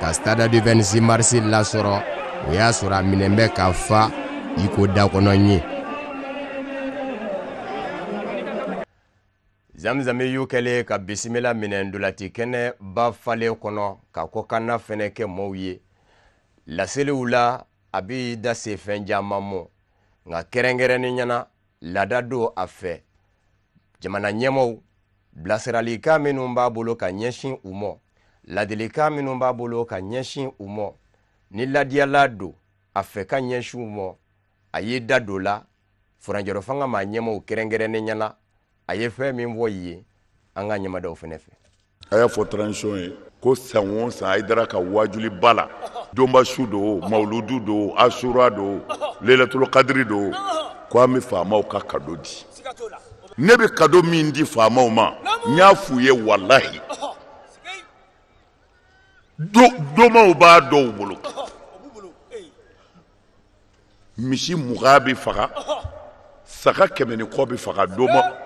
ka stade du 26 mars lasɔrɔ o y'a sɔrɔ a minɛn bɛ ka fa i ko dakɔnɔ ɲin zamzami y'u kɛlen ka bisimila minɛ ndolati kɛnɛ ba falen kɔnɔ ka kɔkanna fɛnɛ kɛ maaw ye laseliw la a b'i da se fɛn caman mɔ nka kɛrɛnkɛrɛnnenya na laada don a fɛ jamana ɲɛmɔw bilasiralikan minnu b'a bolo ka ɲɛsin u mɔ ladilikan minnu b'a bolo ka ɲɛsin u mɔ ni ladiyalan don a fɛ ka ɲɛsin u mɔ a y'i da don la furancɛrɔfanga maa ɲɛmɔw kɛrɛnkɛrɛnnenya na a ye fɛn min fɔ u ye an k'a ɲɛmada aw fɛnɛ fɛ a y'a fɔ transition ye ko san o san haidara ka waajuli ba la donba su do mawuludu do asura do lelatolo kadiri do ko an bɛ faamaw ka kado di ne bɛ kado min di faamaw ma n y'a f'u ye walahi domaw b'a dɔw bolo misi mugan bɛ faga saga kɛmɛ ni kɔ bɛ faga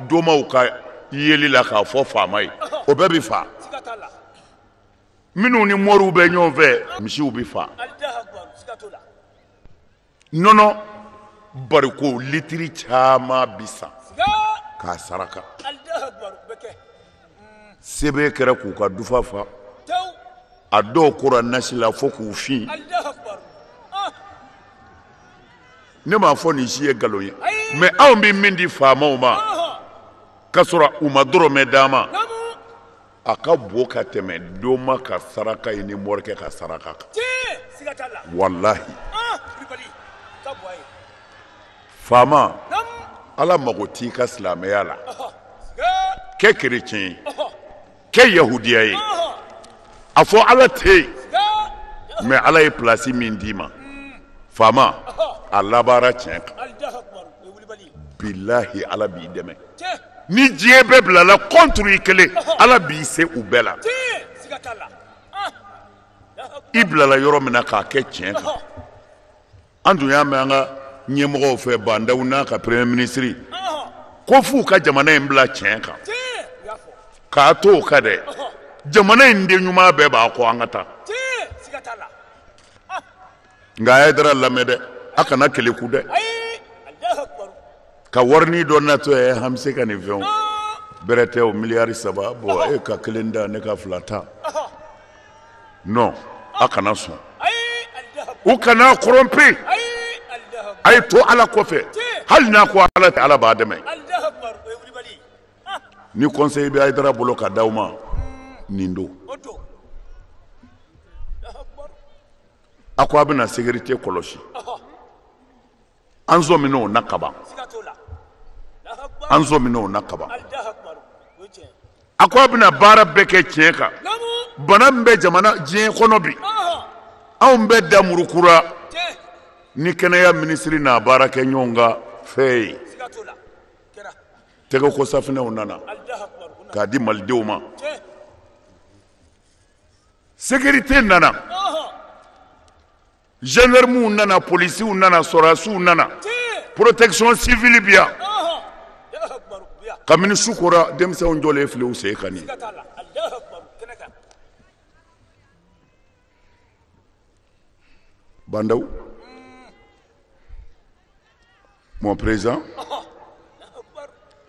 domaw ka yeli la k'a fɔ faama ye o bɛɛ bɛ faa minnu ni moriw bɛ ɲɔgɔn fɛ misiw bɛ faa nɔnɔ bariko litiri caman bɛ san k'a saraka sɛbɛn kɛra k'u ka dufa fa a dɔw kora nasi la fo k'u fin ah. ne m'a fɔ nin si ye nkalon ye mɛ anw bɛ min di faamaw ma ah. k'a sɔrɔ u ma dɔrɔmɛ d'an ma a ka bon ka tɛmɛ doma ka saraka ye ni morikɛ ka saraka kan walahi ah, faama ala mago t'i ka silamɛya la kɛ kerecɛn ye kɛ yahudiya ye a fɔ ala tɛ yen mɛ ala ye pilasi min d'i ma faama a labaara tiɲɛ kan bilahi ala b'i dɛmɛ ni diɲɛ bɛɛ bilala kɔnturu i kelen ala b'i se u bɛɛ la i bilala yɔrɔ min na k'a kɛ tiɲɛ kan an tun y'a mɛn an ka ɲɛmɔgɔw fɛ ba ndaw n'a ka premier ministre ko f'u ka jamana in bila tiɲɛ kan k'a to o kan dɛ jamana in den ɲuman bɛɛ b'a kɔ an ka taa nka a ye haidara lamɛn dɛ a kana keleku dɛ ka warinin dɔ natɔ ye an bɛ se ka nin fɛn bɛrɛ tɛ o miliyari saba bɔ e ka kelen ta ne ka fila ta non a kana sɔn u kana corrompu a ye to ala kɔfɛ hali n'a ko ala tɛ ala b'a dɛmɛ ni conseil bɛ haidara bolo ka d'aw ma nin don a ko a bɛna sécurité kɔlɔsi an sɔmin o na kaban an sɔmin o na kaban a ko a bɛna baara bɛɛ kɛ tiɲɛ kan bana min bɛ jamana diɲɛ kɔnɔ bi anw bɛ da murukura ni kɛnɛya minisiri n'a baarakɛɲɔgɔn ka fɛn ye tɛgɛkosafinɛw nana k'a di malidenw ma sécurité nana zandaramuw nana polisiw nana sɔrasiw nana protection civile bi yan kabini su kora denmisɛnw jɔlen filɛ u sen kan nin ba ndaw Mon président,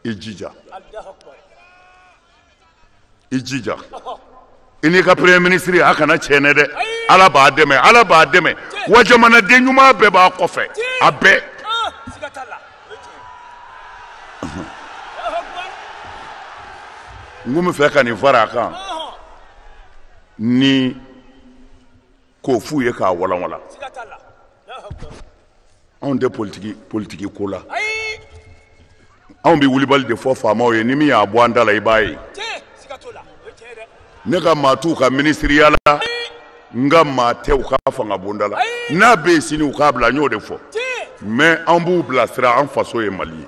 i jija. I jija. I n'i ka premier ministre a kana tiɲɛ dɛ. Ala b'a dɛmɛ, Ala b'a dɛmɛ. Wa jamanaden ɲuman bɛɛ b'a kɔfɛ. A bɛɛ. N kun bɛ fɛ ka nin fara a kan ni k'o f'u ye k'a walanwalan anw tɛ politiki politiki ko la anw bɛ wulibali de fɔ faamaw ye ni min y'a bɔ an da la i b'a ye ne ka maa t'u ka minisiriya la n ka maa tɛ u ka fanga bonda la n'a bɛ yen sini u k'a bila n y'o de fɔ mais an b'u bilasira an faso ye mali ye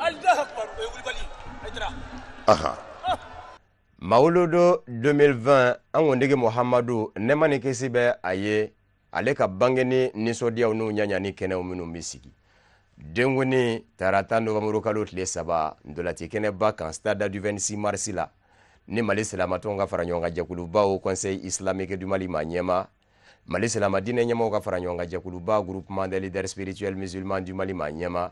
aha mawuludu 2020 an kuntigi muhamadu nɛɛma ni kisi bɛ a ye ale ka bangeni nisɔndiyaw n'u ɲagali kɛnɛw minnu bɛ sigi denkundi tarata nowanburukalo tile saba ntolaci kɛnɛba kan stade du 26 mars la ni mali silamatɔnw ka fara ɲɔgɔn kan jɛkuluba haut conseil islamique du mali ma ɲɛma mali silamadinɛ ɲɛmaaw ka fara ɲɔgɔn kan jɛkuluba groupement des leaders spirituels musulmans du mali ma ɲɛma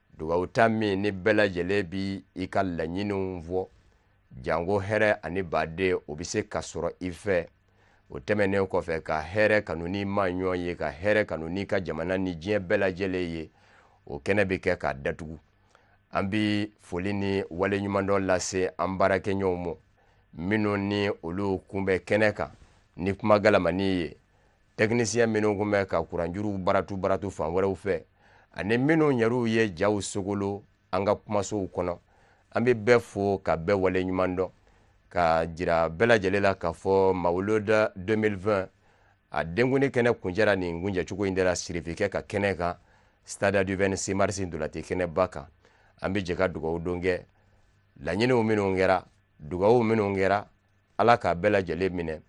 dugawuta min ni bɛɛ lajɛlen b'i ka laɲiniw fɔ janko hɛrɛ ani baden o bɛ se ka sɔrɔ i fɛ o tɛmɛnen kɔfɛ ka hɛrɛ kanu n'i maɲɔgɔn ye ka hɛrɛ kanu n'i ka jamana ni diɲɛ bɛɛ lajɛlen ye o kɛnɛ bɛ kɛ k'a datugu an bɛ foli ni waleɲumandɔn lase an baarakɛɲɔgɔnw ma minnu ni olu kun bɛ kɛnɛ kan ni kuma galamani ye tɛkinisiɲɛ minnu kun bɛ ka kuranjuruw baratu baratu fan wɛrɛw fɛ ani minnu yɛrɛw ye jaw sogolo an ka kumasow kɔnɔ an bɛ bɛɛ fo ka bɛɛ waleɲumandɔn ka jira bɛɛ lajɛlen la k'a fɔ mawuloda 2020 a denkuni kɛnɛ kuncɛra nin kuncɛcogo in de la sirifikɛ ka kɛnɛ kan stade du 26 mars ntolaci kɛnɛba kan an bɛ jɛ ka dugawudon kɛ laɲiniw minnu kɛra dugawu minnu kɛra ala k'a bɛɛ lajɛlen minɛ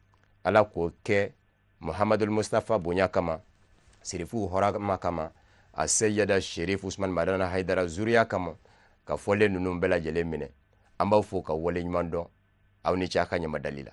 ala k'o kɛ muhamadul mustafa bonya kama sirifuw hɔrɔma kama a seyida sherif usman madani haidara zuriya kama ka fɔlen ninnu bɛɛ lajɛlen minɛ an b'aw fo k'aw waleɲumandɔn aw ni ce a ka ɲamadali la